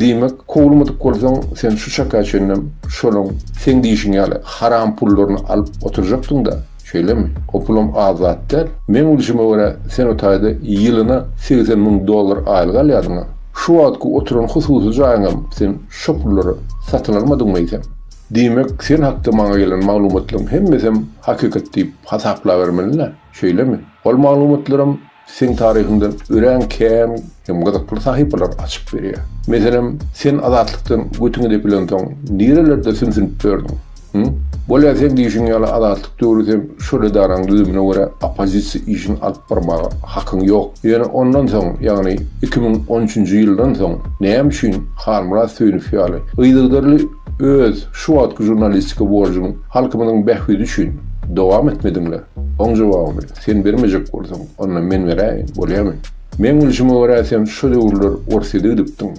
Speaker 1: Diýmek, kowulmadyk bolsaň, sen şu çaka çenlem şolaň seň diýşiň ýaly haram pullaryny alyp oturjakdyň-da. Şeýlemi? O pulam az zat däl. Meň bilşime görä, sen o taýda ýylyna segsen müň dollar aýlyk alýardyň-a. Şu wagtky oturan hususy jaýyňam sen şo pullara satyn almadyňmy eýsem? Diýmek, sen hakda maňa gelen maglumatlaryň hemmesem hakykat diýip hasaplabermeli-dä, şeýlemi? Ol maglumatlaram Seň taryhyňda örän kän hem gyzykly sahypalary açyp berýär. Meselem, sen Azatlykdan götüňi depilensoň, nirelerde sümsünip ýördüň? Hum? Bolýa seň diýşiň ýaly Azatlyk döwri sen şol edaraň düzümine görä oppozisiýa işini alyp barmaga hakyň ýok. Ýöne ondan soň, ýagny iki müň on üçünji ýyldan soň näme üçin Halmyrat Söýünow ýaly yzygderli öz şu wagtky žurnalistika borjuňy halkymyzyň bähbidi üçin dowam etmediňler? Oň jogabyny. Sen bermejek bolsaň, onda men beräýin, bolýamy? Meň bilşime görä sen şo döwürler Orsýede gidipdiň.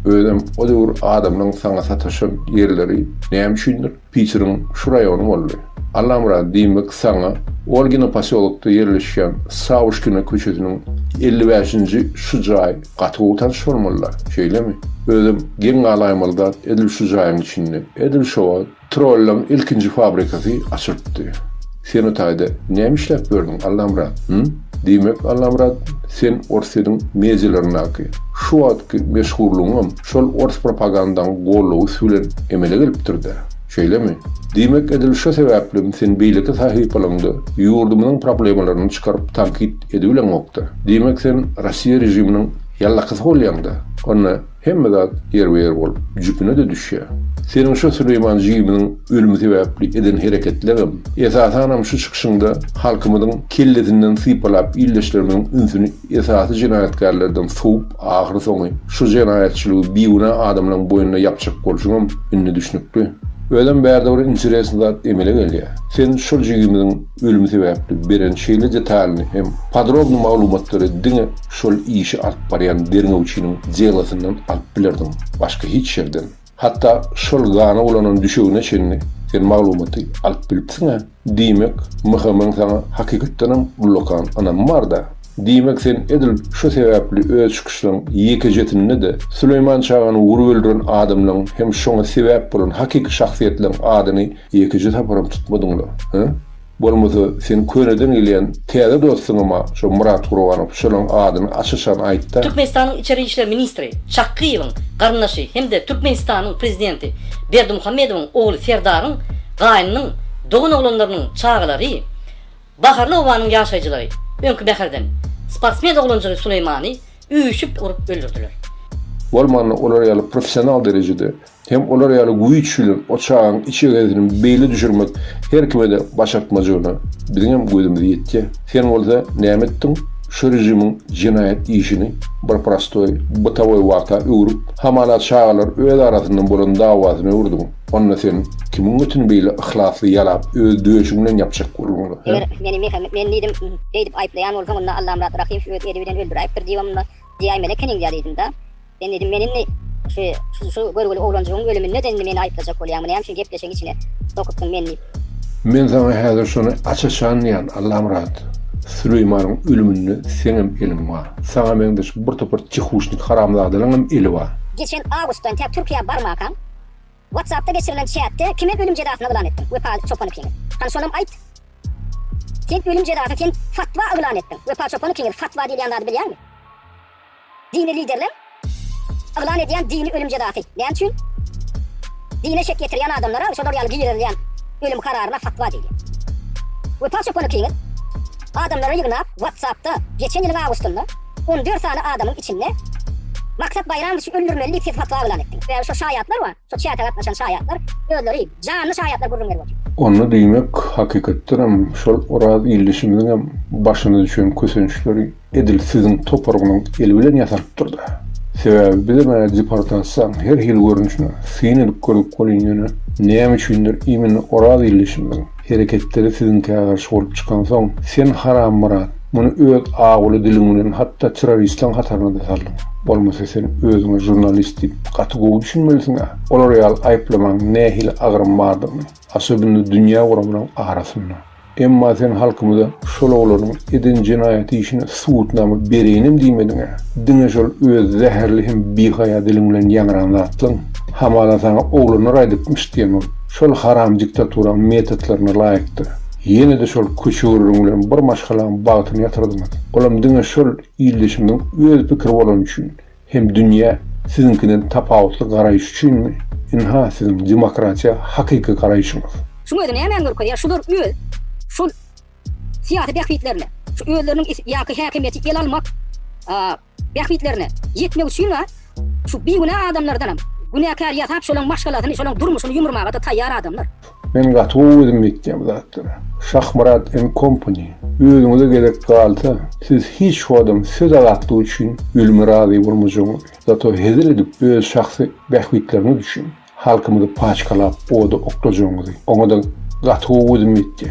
Speaker 1: Özem o döwür adamlaň saňa sataşan ýerleri näme üçindir Piçiriň şu raýony boldy. Allamyrat, diýmek saňa Olgina posýolokda ýerleşýän Sawuşkina köçesiniň elli bäşinji şu jaý gaty gowy tanyş bolmaly-da, şeýlemi? Özem geň galaýmaly zat edil şu jaýyň içinde, edil şo wagt. Trollaň ilkinji fabrikasy açylypdy. Sen o taýda näme işläp ýördüň, Allamyrat, hym? Diýmek, Allamyrat, sen Orsýetiň medialaryndaky şu wagtky meşhurlygyňam şol ors propagandaň gollawysy bilen emele gelipdir-dä, şeýlemi? Diýmek, edil şo sebäplem sen beýleki sahypalaryňda ýurdumyzyň problemalaryny çykaryp tankyt edibileňokda. Diýmek, sen Rossiýa režiminiň ýallakysy bolýaň-da? Onda, Hemme zat ýerbe-ýer bolup, jüpüne-de düşýär. Seniň şo Süleýman jigimiň ölümi sebäpli eden hereketleriňem, esasanam şu çykyşyňda halkymyzyň kellesinden sypalap ildeşlerimiziň ünsüni esasy jenaýatkärlerden sowup ahyry soňy şu jenaýatçylygy bigünä adamlaň boýnuna ýapjak bolşuňam indi düşnükli. Özem bärde bir interesn zat emele gelýär. Sen şol jigimiziň Ölüm sebäpli beren şeýle detalyny hem podrobny maglumatlary diňe şol işi alyp barýan derňewçiniň delosyndan alyp bilerdiň, başga hiç ýerden. Hatda şol gana bulanan düşegine çenli sen maglumaty alyp bilipsiň-ä. Diýmek, MHM-iň saňa hakykatdanam ullakan ynamy bar-da. Diýmek, sen edil şo sebäpli öz çykyşlaryň ýekejesinde-de Süleýman çagany urup öldüren adamlaryň hem şoňa sebäp bolan hakyky şahsyýetleriň adyny Ýekeje saparam tutmadyňlar, hä? Bolmasa, seniň köneden gelýän täze dostuňam-a şo Myrat Gurbanow, şonuň adyny aç-açan aýt-da! Türkmenistanyň içeri işler
Speaker 4: ministri Çakgyýewiň garyndaşy hem-de Türkmenistanyň prezidenti Berdimuhamedowyň ogly Serdaryň gaýnynyň dogan oglanlarynyň çagalary, Baharly obanyň ýaşaýjylary öňki mäherden sportsmen oglanjygy Suleýmany üýşüp urup öldürdiler. Bolmanda
Speaker 1: olar ýaly professional derejede Hem olar ýaly güýç bilen o çagaň iç egerizinem beýle düşürmek her kime-de başartmajygyna biziňem gözümiz ýetýä. Sen bolsa näme etdiň? Şu režimiň jenaýat işini bir prostoý, bytawy wagta öwrüp, hamala çagalar öz arasynda bolan dawasyna öwürdiň. Onda sen kimiň götüni beýle yhlasly ýalap, öz döşüň bilen ýapjak bolduň? Eger meni Mehmet, men
Speaker 2: diýdim, beýdip aýyplaýan bolsaň, onda Allamyrat Rahymow öz eli bilen öldüräýipdir diýibem onda, Diýäý Melekeniň ýalydyň-da. Sen diýdim, men indi şu, şu görgüli oglanjygyň ölüminde-de indi meni aýyplajak bolýaňmy, näme üçin gepleşigiň içine sokudyň meni diýip. Men saňa
Speaker 1: häzir şony aç-açanlaýan, Allamyrat. Süleýmanyň ölüminde seňem eliň bar. Saňa meňzeş birtopar çehuşnik haramzadalaryňam eli bar. Geçen awgustdan tä
Speaker 2: Türkiýä barmakaň. Whatsappda geçirilen çätde kime ölüm jezasyny yglan etdiň Wepaly çopan ikiňiz hany şonam aýt Sen ölüm jezasy sen fatwa yglan etdiň Wepa çopan ikiňiz fatwa diýilýän zady bilýäňmi Dini liderler yglan edýän dini ölüm jezasy näme üçin Dine şek getirýän adamlara şolar ýaly girizilýän ölüm kararyna fatwa diýilýär Wepa çopan ikiňiz adamlary ýygnap whatsappda geçen ýylyň awgustynda On dört sany adamyň içinde Maksat Baýramowiçi öldürmeli diýip siz fatwa yglan etdiňiz. Sebäbi şo şaýatlar bar, şo çäkä gatnaşan şaýatlar özleri janly şaýatlar gürrüň berip otyr. Onda diýmek,
Speaker 1: hakykatdan hem şol Oraz ildeşimiziň hem başyna düşen kösençleri edil siziň toparyňyzyň eli bilen ýasalypdyr-da. Sebäbi bizem ä deportasiýaň her hili görnüşine syn edip gördük welin ýöne näme üçindir imенно Oraz ildeşimiziň, hereketleri siziňkä garşy bolup çykansoň, sen Harammurat, muny öz awuly diliň bilen hatda terroristiň hataryna-da saldyň. Bolmasa sen özüňe žurnalist diýip gaty gowy düşünmelisiň-ä. Olar ýaly aýyplamaň nähili agyrym bardygyny, asabynda dünýä guramynyň arasynda. Emma sen halkymyza şol oglanyň eden jenaýat işine subutnama bereýinem diýmediň-ä. Diňe şol öz zäherli hem bihaýa diliň bilen ýaňran zatlaň. Hamala saňa oglanlar aýdypmyş diýen bolup. Şol haram diktaturaň metodlaryna laýykdyr. Ýene-de şol köçegürrüň bilen bir maşgalaň bagtyny ýatyrdyňyz. Olam diňe şol ildeşimiziň öz pikiri bolany üçin, hem dünýä siziňkiden tapawutly garaýyşy üçinmi? Ynha siziň demokratiýa hakyky garaýşyňyz. Şuň özi nämäni
Speaker 2: görkezýär, şular öz şol syýasy bähbitlerine, şu özleriniň is ýa ki häkimiýeti el almak, Bähbitlerine ýetmek üçin-a şu bigünä adamlardanam günäkär ýasap şolaň maşgalasyny şolaň durmuşyny ýumurmaga-da taýýar adamlar. Men gaty gowy
Speaker 1: özüm etýän bu zatlary. Şahmyrat and company özüňize gerek galsa siz hiç wagtam söz azatlygy üçin ölüme razy bolmajagyňyz. Zato hezil edip öz şahsy bähbitleriňiz üçin Halkymyzy paçkalap oda oklajagyňyzy, oňa-da gaty gowy gözüm ýetdi.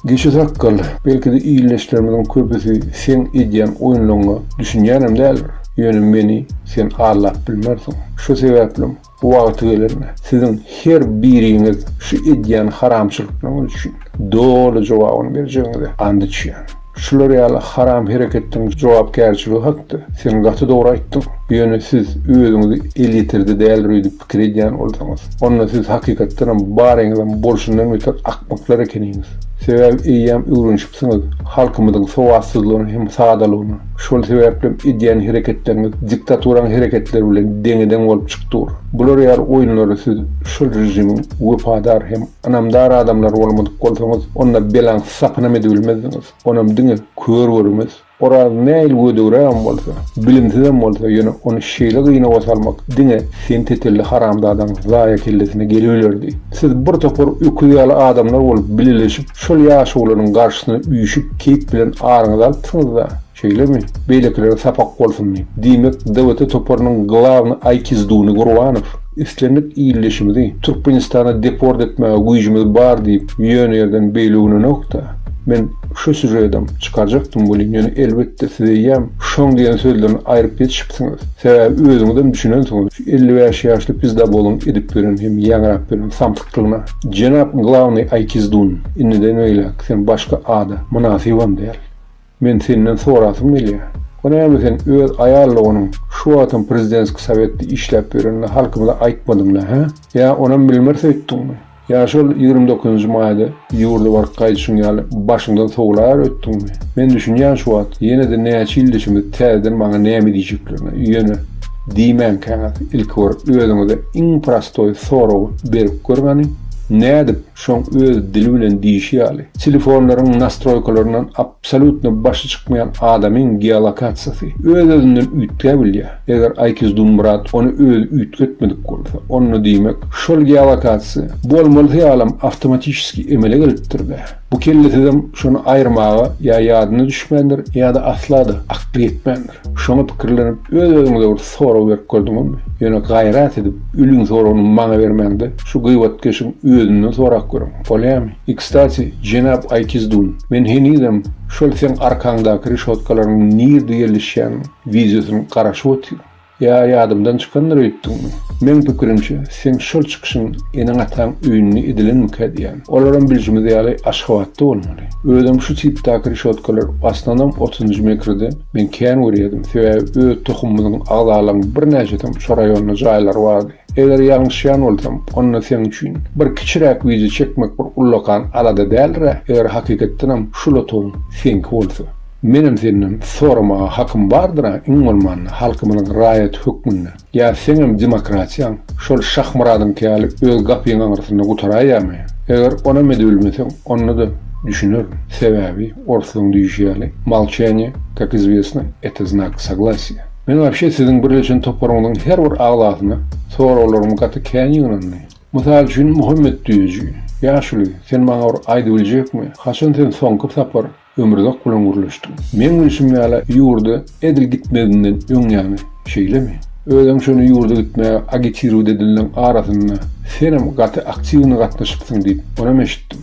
Speaker 1: Geçi sakgal, belki-de ildeşlerimiziň köpüsi seň edýän oýunlaryňa düşünýänem däldir, ýöne meni sen aldap bilmersiň. Şo sebäplem wagty gelende siziň her biriňiz şu edýän haramçylyklaryňyz üçin doly jogabyny berjegiňize and içýän. Şular ýaly haram hereketden jogapkärçiligi hakda sen gaty dogry aýtdyň. Ýöne siz özüňizi eliterde däldir öýdüp pikir edýän bolsaňyz, onda siz hakykatdanam baryňyzam bolşundan beter akmaklar ekeniňiz. Sebäbi eýýäm öwrenişipsiňiz halkymyzyň sowatsyzlygyna hem sadalygyna. Şol sebäplem edýän hereketleriňiz diktaturaň hereketleri bilen deňe-deň bolup çyk dur. Bular ýaly oýunlara siz şol režimiň wepadar hem ynamdar adamlary bolmadyk bolsaňyz, onda belaň sakynam edibilmezdiňiz. Onam diňe kör görmez. Oraz nähili gödegrägem bolsa, bilimsizem bolsa, ýöne ony şeýle gynawa salmak diňe sen tetelli haramzadaň zaýa kellesine gelibilerdi. Siz bir topar öküz ýaly adamlar bolup bileleşip, şol ýaşulynyň garşysyna üýşüp, keýp bilen aryňyzy alypsyňyz-da. Şeýlemi? Beýlekilere sapak bolsun diýip. Diýmek, DWT toparynyň glawny aýkizduny Gurbanow, islendik ildeşimizi Türkmenistana deport etmäge güýjümiz bar diýip, ýöne ýerden beýle uglenok-da. Men şu sýužedem çykarjakdym welin, ýöne elbetde siz eýýäm şoň diýen sözlerini aýryp ýetişipsiňiz. Sebäbi özüňizem düşünensiňiz, şu elli bäş ýaşly pizdaboluň edip ýören hem ýaňrap ýören samsyklygyna. Jenap glawny aýkizdun, indiden beýläk sen başga ada mynasybam däl. Men senden sorasym gelýär. Bu näme sen öz aýallygynyň şu wagtam prezidentski sowetde işläp ýörenini halkymyza aýtmadyňda hä? Ýa onam bilmir söýtdiňmi? Ýa şol ýigrimi dokuzynjy maýda ýurda baryp gaýdyşyň ýaly başyňdan sowlar ötdiňmi? Men düşünýän şu wagt ýene-de näçe ýyl deşimiz täzeden maňa näme diýjeklerini ýöne diýmänkäňiz ilki bir özüňize iň prostoý soragy berip görüňäni nädip şoň öz dili bilen diýişi ýaly, telefonlaryň nastroýkalaryndan absolýutno başy çykmaýan adamyň geolokasiýasy öz-özünden üýtgäbilýär, eger Aýkizdunmyrat ony özi üýtgetmedik bolsa, onda diýmek, şol geolokasiýa bolmalysy ýalam awtomatişeski emele gelipdir-dä. Bu kellesizem şony aýyrmaga ýa ýadyna düşmändir, ýa-da asla-da akly ýetmändir. Şoňa pikirlenip, öz-özüňize bir Sorag berip gördüňizmi? Ýöne gaýrat edip ülüň soragyny maňa bermäňde, şu gyýbatkeşiň özünden sorap görüň. Bolýamy? I kstati, jenap Aýkizdun, men henizem şol seň arkaňdaky reşotkalaryň nirde ýerleşýän wideosyny garaşyp otyryn. Ýa ýadymdan çykandyr öýtdüňmi? Meň pikirimçe, seň şol çykyşyň eneň-ataň öýünde edilenmikä diýýän. Olaram bilşimiz ýaly Aşgabatda bolmaly. Özem şu tipdäki reşotkalar aslynam otuzynjy mekrde Men kän görýärdim, sebäbi öz tohumymyzyň agzalarynyň birnäçesiniň şu raýonda jaýlary bardy. Eger ýalňyşýan bolsam, onda seň üçin bir kiçiräk wideo çekmek bir ullakan alada däldir-ä, eger hakykatdanam şu lotuň seňki bolsa. Menem senden soramaga hakym bardyr-a, iň bolmanda, halkymyzyň raýaty hökmünde. Ýa seňem demokratiýaň şol Şahmyradyňky ýaly öz gapyň aňyrsynda gutaraýamy? Eger onam edibilmeseň, onda-da düşünerin. Sebäbi, orslyň düýşi ýaly, Molçeniýe, kak izwesno, eto znak soglasiýa. Men wapşe siziň birleşen toparyňyzyň her bir agzasyna soraglarym gaty kän ýygnandy. Mysal üçin, Muhammet düýeji, Ýaşuly, sen maňa bir aýdybiljekmi, haçan sen soňky sapar Ömürzak bilen gürleşdiň. Meň bilşim ýaly ýurda edil gitmezinden öň ýaňy, şeýlemi? Özem şony ýurda gitmäge agitiruwt edinden arasynda senem gaty aktiwny gatnaşypsyň diýip onam eşitdim.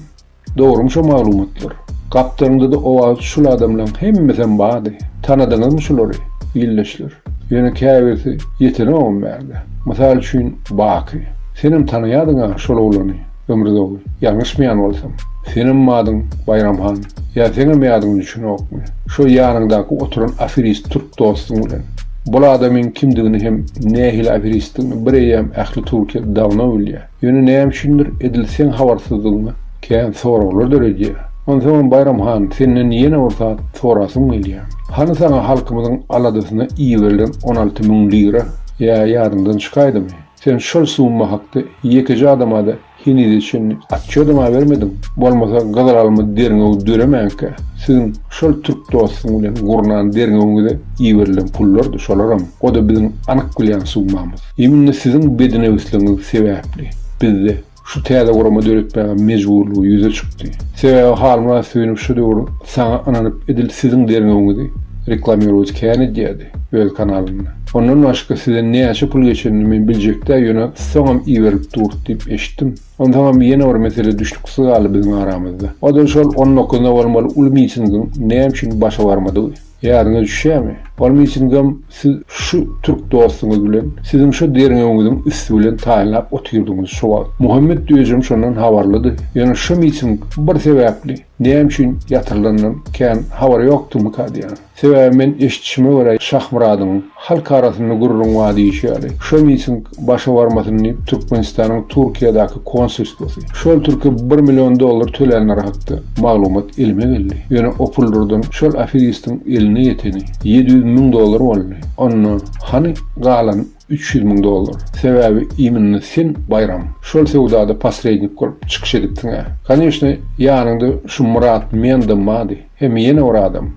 Speaker 1: Dogrymy şo maglumatlar? Gapdalyňdada owazy şul adamlaň hemmesem bady. Tanadyňyzmy şulary, ildeşler? Ýöne käbirsi ýetenogam bärde. Mysal üçin Baky. Senem tanaýadyňa şol oglany. Ömrü dogry. Ýalňyşmaýan bolsam. Senem adyň Baýram han. Ýa seňem ýadyňa düşenokmy? Şo ýanyňdaky oturan aferist türk dostuň bilen. Bul adamyň kimdigini hem nähili aferistdigini bireýýäm ähli Türkiýe dawno bilýä. Ýöne näme üçindir edil seň habarsyzdygyňy kän soraglar döredýä. Onsoňam Baýram han senden ýene bir zat sorasym gelýä. Hany saňa halkymyzyň aladasyna iberilen on alty müň lira? Ýa ýadyňdan çykaýdymy? Sen şol summa hakda ýekeje adama-da henize çenli otçýodam abermediň. Bolmasa gyzylelma derňewi döremänkä, siziň şol türk dostuň bilen gurnan derňewiňize iberilen pullardy şolaram, o-da biziň anyk bilýän summamyz. Iminde siziň bedinewsligiňiz sebäpli bizde Şu täze gurama döretmäge mejburlygy ýüze çykdy. Sebäbi halyňa söýünip şu döwür saňa ynanyp edil siziň derňewiňizi reklamirowat kän edýädi öz kanalynda. Ondan başga size näçe pul geçenini men biljekdä ýöne soňam iberilip dur diýip eşitdim. Onsoňam ýene bir mesele düşnüksiz galdy biziň aramyzda. Oda şol on dokuzynda bolmaly uly mitingiň näme üçin başa barmadygy. Ýadyňa düşýämi? Ol mitingem siz şu türk dostuňyz bilen, siziň şo derňewiňiziň üsti bilen taýynlap otyrdyňyz şo wagt. Muhammet Döjem şondan habarlydy. Ýöne şo miting bir sebäpli, näme üçin ýatyrylanyndan kän habary ýokdymyka diýýän. Sebäbi men eşitişime görä Şahmyradyň, Halk arasynda gürrüň bar diýşi ýaly, şo miting başa barmasyn diýip, Türkmenistanyň Türkiýedäki konsulstwasy, şol türke bir million dollar tölänleri hakda maglumat elime geldi. Ýöne o puldurdan şol aferistiň eline ýeteni ýedi ýüz müň dollar boldy. Onda hany galan üç ýüz müň dollar? Sebäbi iminna sen, Baýram, şol söwdada posrednik bolup çykyş edipsiň-ä. Koneşne, ýanyňda şu Myrat Mendam bardy. Hem ýene bir adam,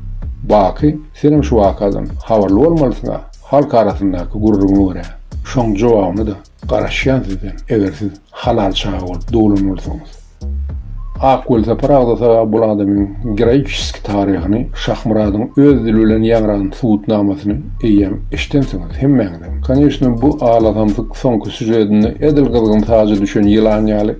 Speaker 1: Baky, senem şu wakadan habarly bolmalysyň-a, halk arasyndaky gürrüňe görä. Şoň jogabyny-da garaşýan sizden, eger siz halal çaga bolup doglan bolsaňyz. Ak welsapar agzasa bul adamyň geroiçeski taryhyny, Şahmyradyň öz dili bilen ýaňran subutnamasyny eýýäm eşidensiňiz hemmäňizem. Koneçne bu alasamsyk soňky sýužedinde edil gyzgyn saja düşen ýylan ýaly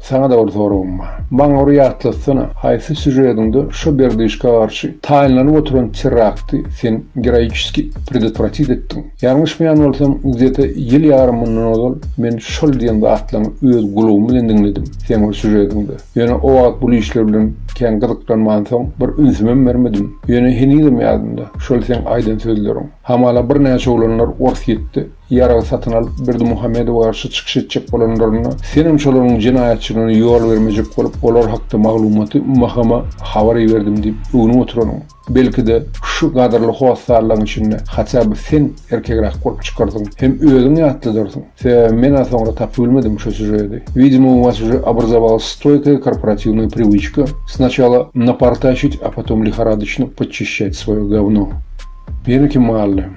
Speaker 1: Saňa-da bir soragym bar. Maňa bir ýatlatsana, haýsy sýužediňde şo Berdyşka garşy taýynlanyp oturan terrakty sen geroiçeski predotwratit etdiň? Ýalňyşmaýan bolsam, gzete ýyl ýarym mundan ozal men şol diýen zatlaňy öz gulagym bilen diňledim, seň bir sýužediňde. Ýöne o wagt bul işler bilen kän gyzyklanmansoň, bir ünsümem bermedim. Ýöne henizem ýadymda, şol seň aýdan sözleriň. Hamala birnäçe oglanlar Orsýetde Ýarag satyn alyp, Berdimuhamedowa garşy çykyş etjek bolanlarynda, senem şolaryň jenaýatçylygyna ýol bermejek bolup, olar hakda maglumaty MHM-a habar iberdim diýip öwnüp oturanyň. Belki-de, şu gadyrly hossarlaň içinde haçja bir sen erkegräk bolup çykardyň hem özüň ýatladyrsyň. Sebäbi men-ä soňra tapybilmedim şu sýužedi. Widimo, u was uje obrazowalась stoýkaýa korporativnaýa priwiçka, snaçala napartaşit, a potom lihoradoçno podçişçat svoýo govno. Ýene kim galdy?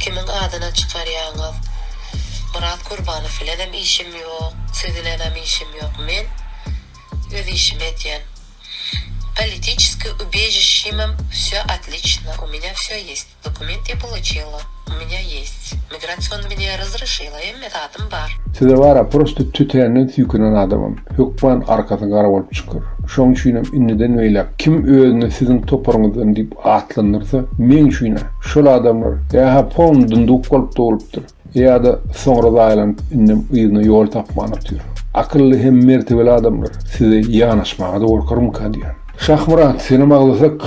Speaker 7: Kimiň adyna çykarýaňyz? Myrat Kurbanow bilenem işim ýok, siz bilenem işim ýok, men öz işimi etýän. Politiçeskiý ubežişimem wsýo otliçno, u mňa wsýo ýeсть, dokument ýa poloçilo, u mňa ýeсть, migrasion mňa rozryşilo, hemme zadym bar. Size bar-a, prosto
Speaker 1: tütänden süýkünen adamam, hökman arkasy gara bolup çykar. Şoň üçinem indiden beýläk kim özüne siziň toparyňyzdan diýip Atlandyrsa, meň üçin-ä şol adamlar ýa-ha pon dyndyk bolup dogulupdyr, ýa-da soňra zaýalanyp indem yzyna ýol tapman otyr. Akylly hem mertebeli adamlar size ýanaşmaga-da gorkarmyka diýýän. Şahmyrat, senem aglasak,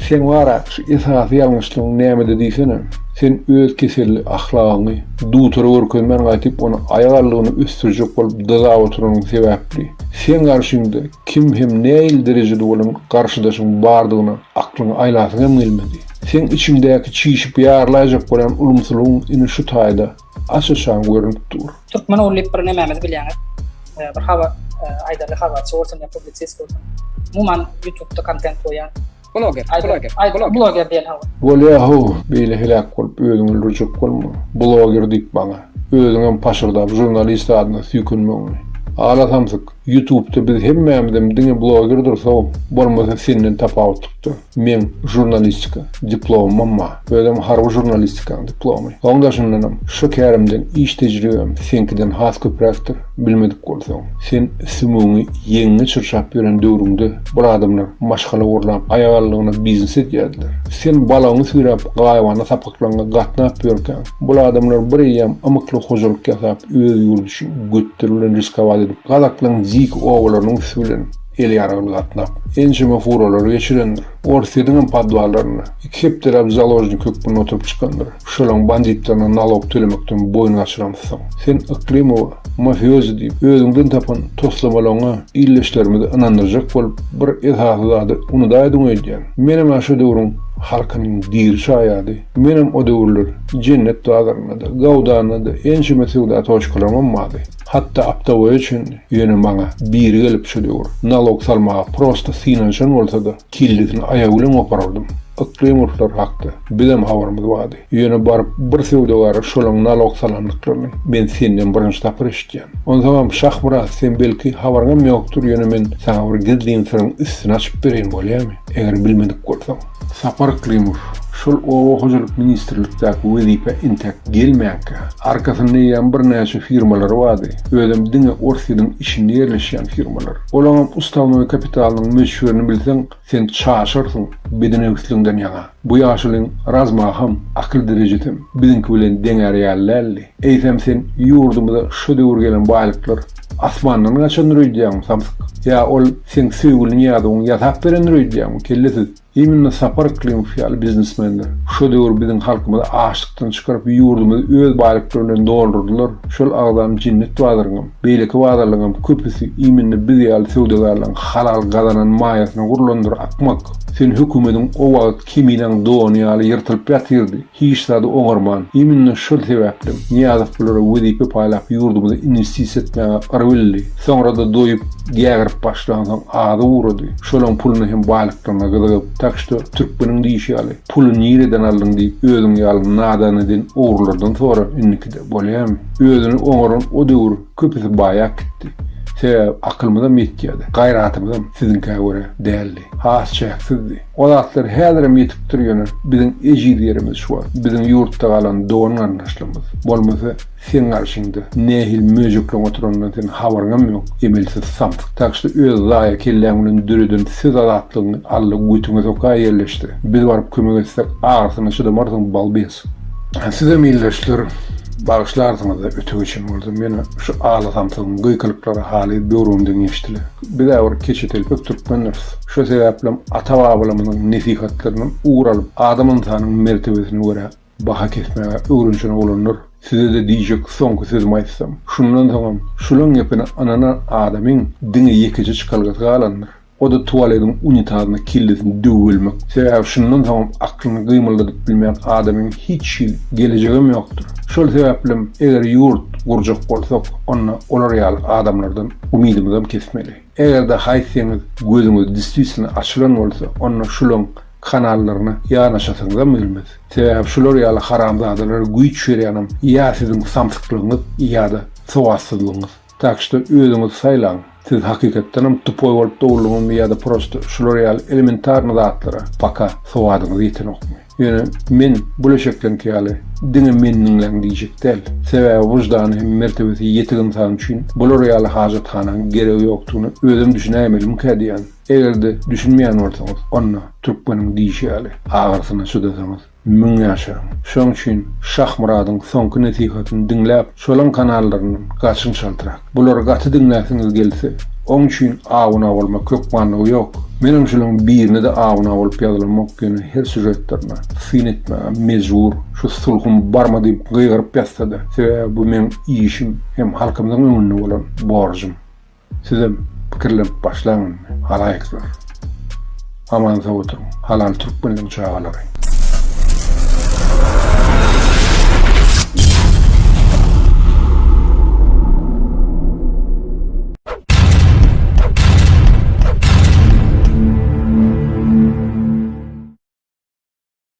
Speaker 1: seň bar-a şu esasy ýalňyşlygyň nämede diýsene. Sen öz keselli ahlagyňy dutara görkezmän gaýtyp ony aýak aldygyna ösdürjek bolup dyzap oturanyň sebäpli. Seň garşyňda Kim hem näil derejede bolan garşydaşyň bardygyna aklyňy aýlasyň hem gelmedi. Seň içiňdäki çişip ýarlaýjak bolan ulumsylygyň ine şu taýda aç-açan görnüp dur. Türkmen ogly diýip bir
Speaker 8: nemämizi bilýäňiz. Bir habar aýdarly habarçy bolsun ýa publisist bolsun. Umuman ýutubda kontent goýýan Bloger, bloger, bloger. Bloger diýen hawa. Bolýa how, beýle
Speaker 1: heläk bolup özüňi öldürjek bolma. Bloger diýip maňa. Özüňem paşyrdap žurnalist adyna süýkenmegiňi. Ala samsyk, ýutubda biz hemmämizem diňe blogerdiris how, bolmasa senden tapawutlykda, meň žurnalistika diplomymam bar. Özem harby žurnalistikaň diplomy. Soň daşyndanam, şu kärimden iş tejribem seňkiden has köpräkdir. Bilmedik bolsaň, sen sümügiňi ýeňiňe çyrşap ýören döwrüňde bir adamlar maşgala gurlap, aýagallygyna biznes edýärdiler. Sen balagyňy süýräp, gaýybana sapaklaňa gatnap ýörkäň, bul adamlar bir eýýäm ymykly hojalyk ýasap, öz ýurdy üçin götleri bilen riskowat edip, gazaklaň dik obalarynyň üsti bilen, Ýel ýaragly gatnak. Ençeme furalary geçirendir. Orsýetiň hem podwallarynda. Iki hepdeläp založnik hökmünde oturyp çykandyr. Şolaň banditlerine nalog tölemekden boýun gaçyramyzsoň. Sen Yklymowa mafiozi diýip, özüňden tapan toslamalaryňa ildeşlerimizi ynandyrjak bolup, bir esasy zady unudaýdyň öýdýän. Menem-ä şo döwrüň halkynyň diri şaýady. Menem o döwürler Jennet bazarynda-da, Gawdanda-da ençeme söwda toçkalaryňam bardy. Hatda aptaboýa üçin ýöne maňa biri gelip şu döwür nalog salmaga prosta synanyşan bolsada kellesini aýagy bilen goparardym. Ykjam urslary hakda bizem habarymyz bardy. Ýöne baryp bir söwdagara şolaň nalog salandyklaryny men senden birinji sapar eşitýän. Onsaňam Şahmyrat sen belki habaryňam ýokdur ýöne men saňa bir gizlin syryň üstüni açyp bereýin bolýamy eger bilmedik bolsaň. Sapar Klimow şol oba hojalyk ministrlikdäki wezipä entäk gelmänkä, arkasynda eýýäm birnäçe firmalary bardy, özem diňe Orsýetiň içinde ýerleşýän firmalar. Olaňam ustavnoý kapitalynyň möçberini bilseň, sen çaşarsyň bedenewsligiňden ýaňa. Bu ýaşulyň razmaham, akyl derejesem biziňki bilen deňär ýaly däldi. Eýsem sen ýurdumyza şu döwür gelen baýlyklar Asmandan gaçandyr öýdýäňmi, samsyk? Ýa ol seň söýgüliň ýazuwyňy ýasap berendir öýdýäňmi, kellesiz? Imенно Sapar Yklymov ýaly biznesmenler şo döwür biziň halkymyzy açlykdan çykaryp, ýurdumyzy öz baýlyklary bilen doldurdylar. Şol agzam Jinnet bazaryňam, beýleki bazarlaryňam köpüsi imенно biz ýaly söwdagärleriň halal gazanan maýasyna gurlandyr, akmak! Sen hökümediň o wagt keminiň dony ýaly ýyrtylyp ýatyrdy. Hiç zady oňarman, iminne şol sebäplem Nyýazow bulara wezipe paýlap ýurdumyza inwestisiýa etmäge yr bildi. Soňra-da doýup, gägirip başlansoň azy ugrady. Şolaň puluny hem baýlyklaryna gyzygyp, tak şto, türkmeniň diýşi ýaly, puly nireden aldyň diýip özüň ýaly nadan eden ogrulardan sora indikide bolýamy? Özüni oňaran o döwür köpüsi baýap gitdi. Sebäbi akylymyzam ýetýädi, gaýratymyzam siziňkä görä däldi. Has çäksizdi. O zatlar häzirem ýetipdir ýöne biziň ejiz ýerimiz şu wagt biziň ýurtda galan dogan garyndaşlarymyz bolmasa seň garşyňda nähili möjekleň oturanyndan seniň habaryňam ýok emelsiz samsyk tak şda öz zaýa kelläň bilen döreden söz azatlygyňy alla götüňe soka ýerleşse biz baryp kömek etsek agyrysyna çydamarsyň balbes. Sizem ildeşler bagyşlarsyňyzda öte geçen bolsam ýöne şu ala samsygyň gykylyklary haly böwrümden geçdile bizä bir keçetelpek türkmendiris. Şo sebäplem ata-babalarymyzyň nesihatlaryndan ugur alyp, adam-ynsanyň mertebesine görä baha kesmäge öwrenşen oglanlar, size-de diýjek soňky sözümi aýtsam, şundan soňam şulaň gepine ynanan adamyň diňe ýekeje çykalgasy galandyr, o-da tualediň unitazyna kellesini döwübilmek. Sebäbi şundan soňam aklyny gymyldadyp bilmeýän adamyň hiç hili gelejegem ýokdur. Şol sebäplem eger ýurt gurjak bolsak, onda olar ýaly adamlardan umydymyzam kesmeli. Eger-de haýsyňyz gözüňiz destisna açylan bolsa, onda şulaň kanallaryna ýanaşasyňyzam gelmez. Sebäbi şular ýaly haramzadalara güýç berýänem ýa siziň samsyklygyňyz ýa-da sowatsyzlygyňyz. Tak şto özüňiz saýlaň, siz hakykatdanam tupoý bolup doguldyňyzmy ýa-da prosto şular ýaly elementarny zatlara paka sowadyňyz ýetenokmy. Ýöne men bu leşekleňki ýaly diňe meni diňläň diýjek däl. Sebäbi wyždany hem mertebesi ýetik ynsan üçin bular ýaly hajathanaň geregi ýokdugyna özem düşünäýmelimkä diýýän. Eger-de düşünmeýän bolsaňyz, onda, türkmeniň diýşi ýaly, agyrsyna çydasaňyz, müň ýaşaň. Şoň üçin Şahmyradyň soňky nesihatyny diňläp, Şolaň kanallaryndan gaçyň çaltrak. Bulary gaty diňläsiňiz gelse, oň üçin abuna bolmak hökmanlygy ýok. Menem şulaň birine-de abuna bolup ýazylamok ýöne her sýužetlerine syn etmäge mejbur. Şu sulhum barmy diýip gygyryp ýazsada, sebäbi bu meň işim hem halkymyzyň öňünde bolan borjum. Sizem pikirlenip başlaň indi halaýyklar. Aman sag oturyň halal türkmenliň çagalary.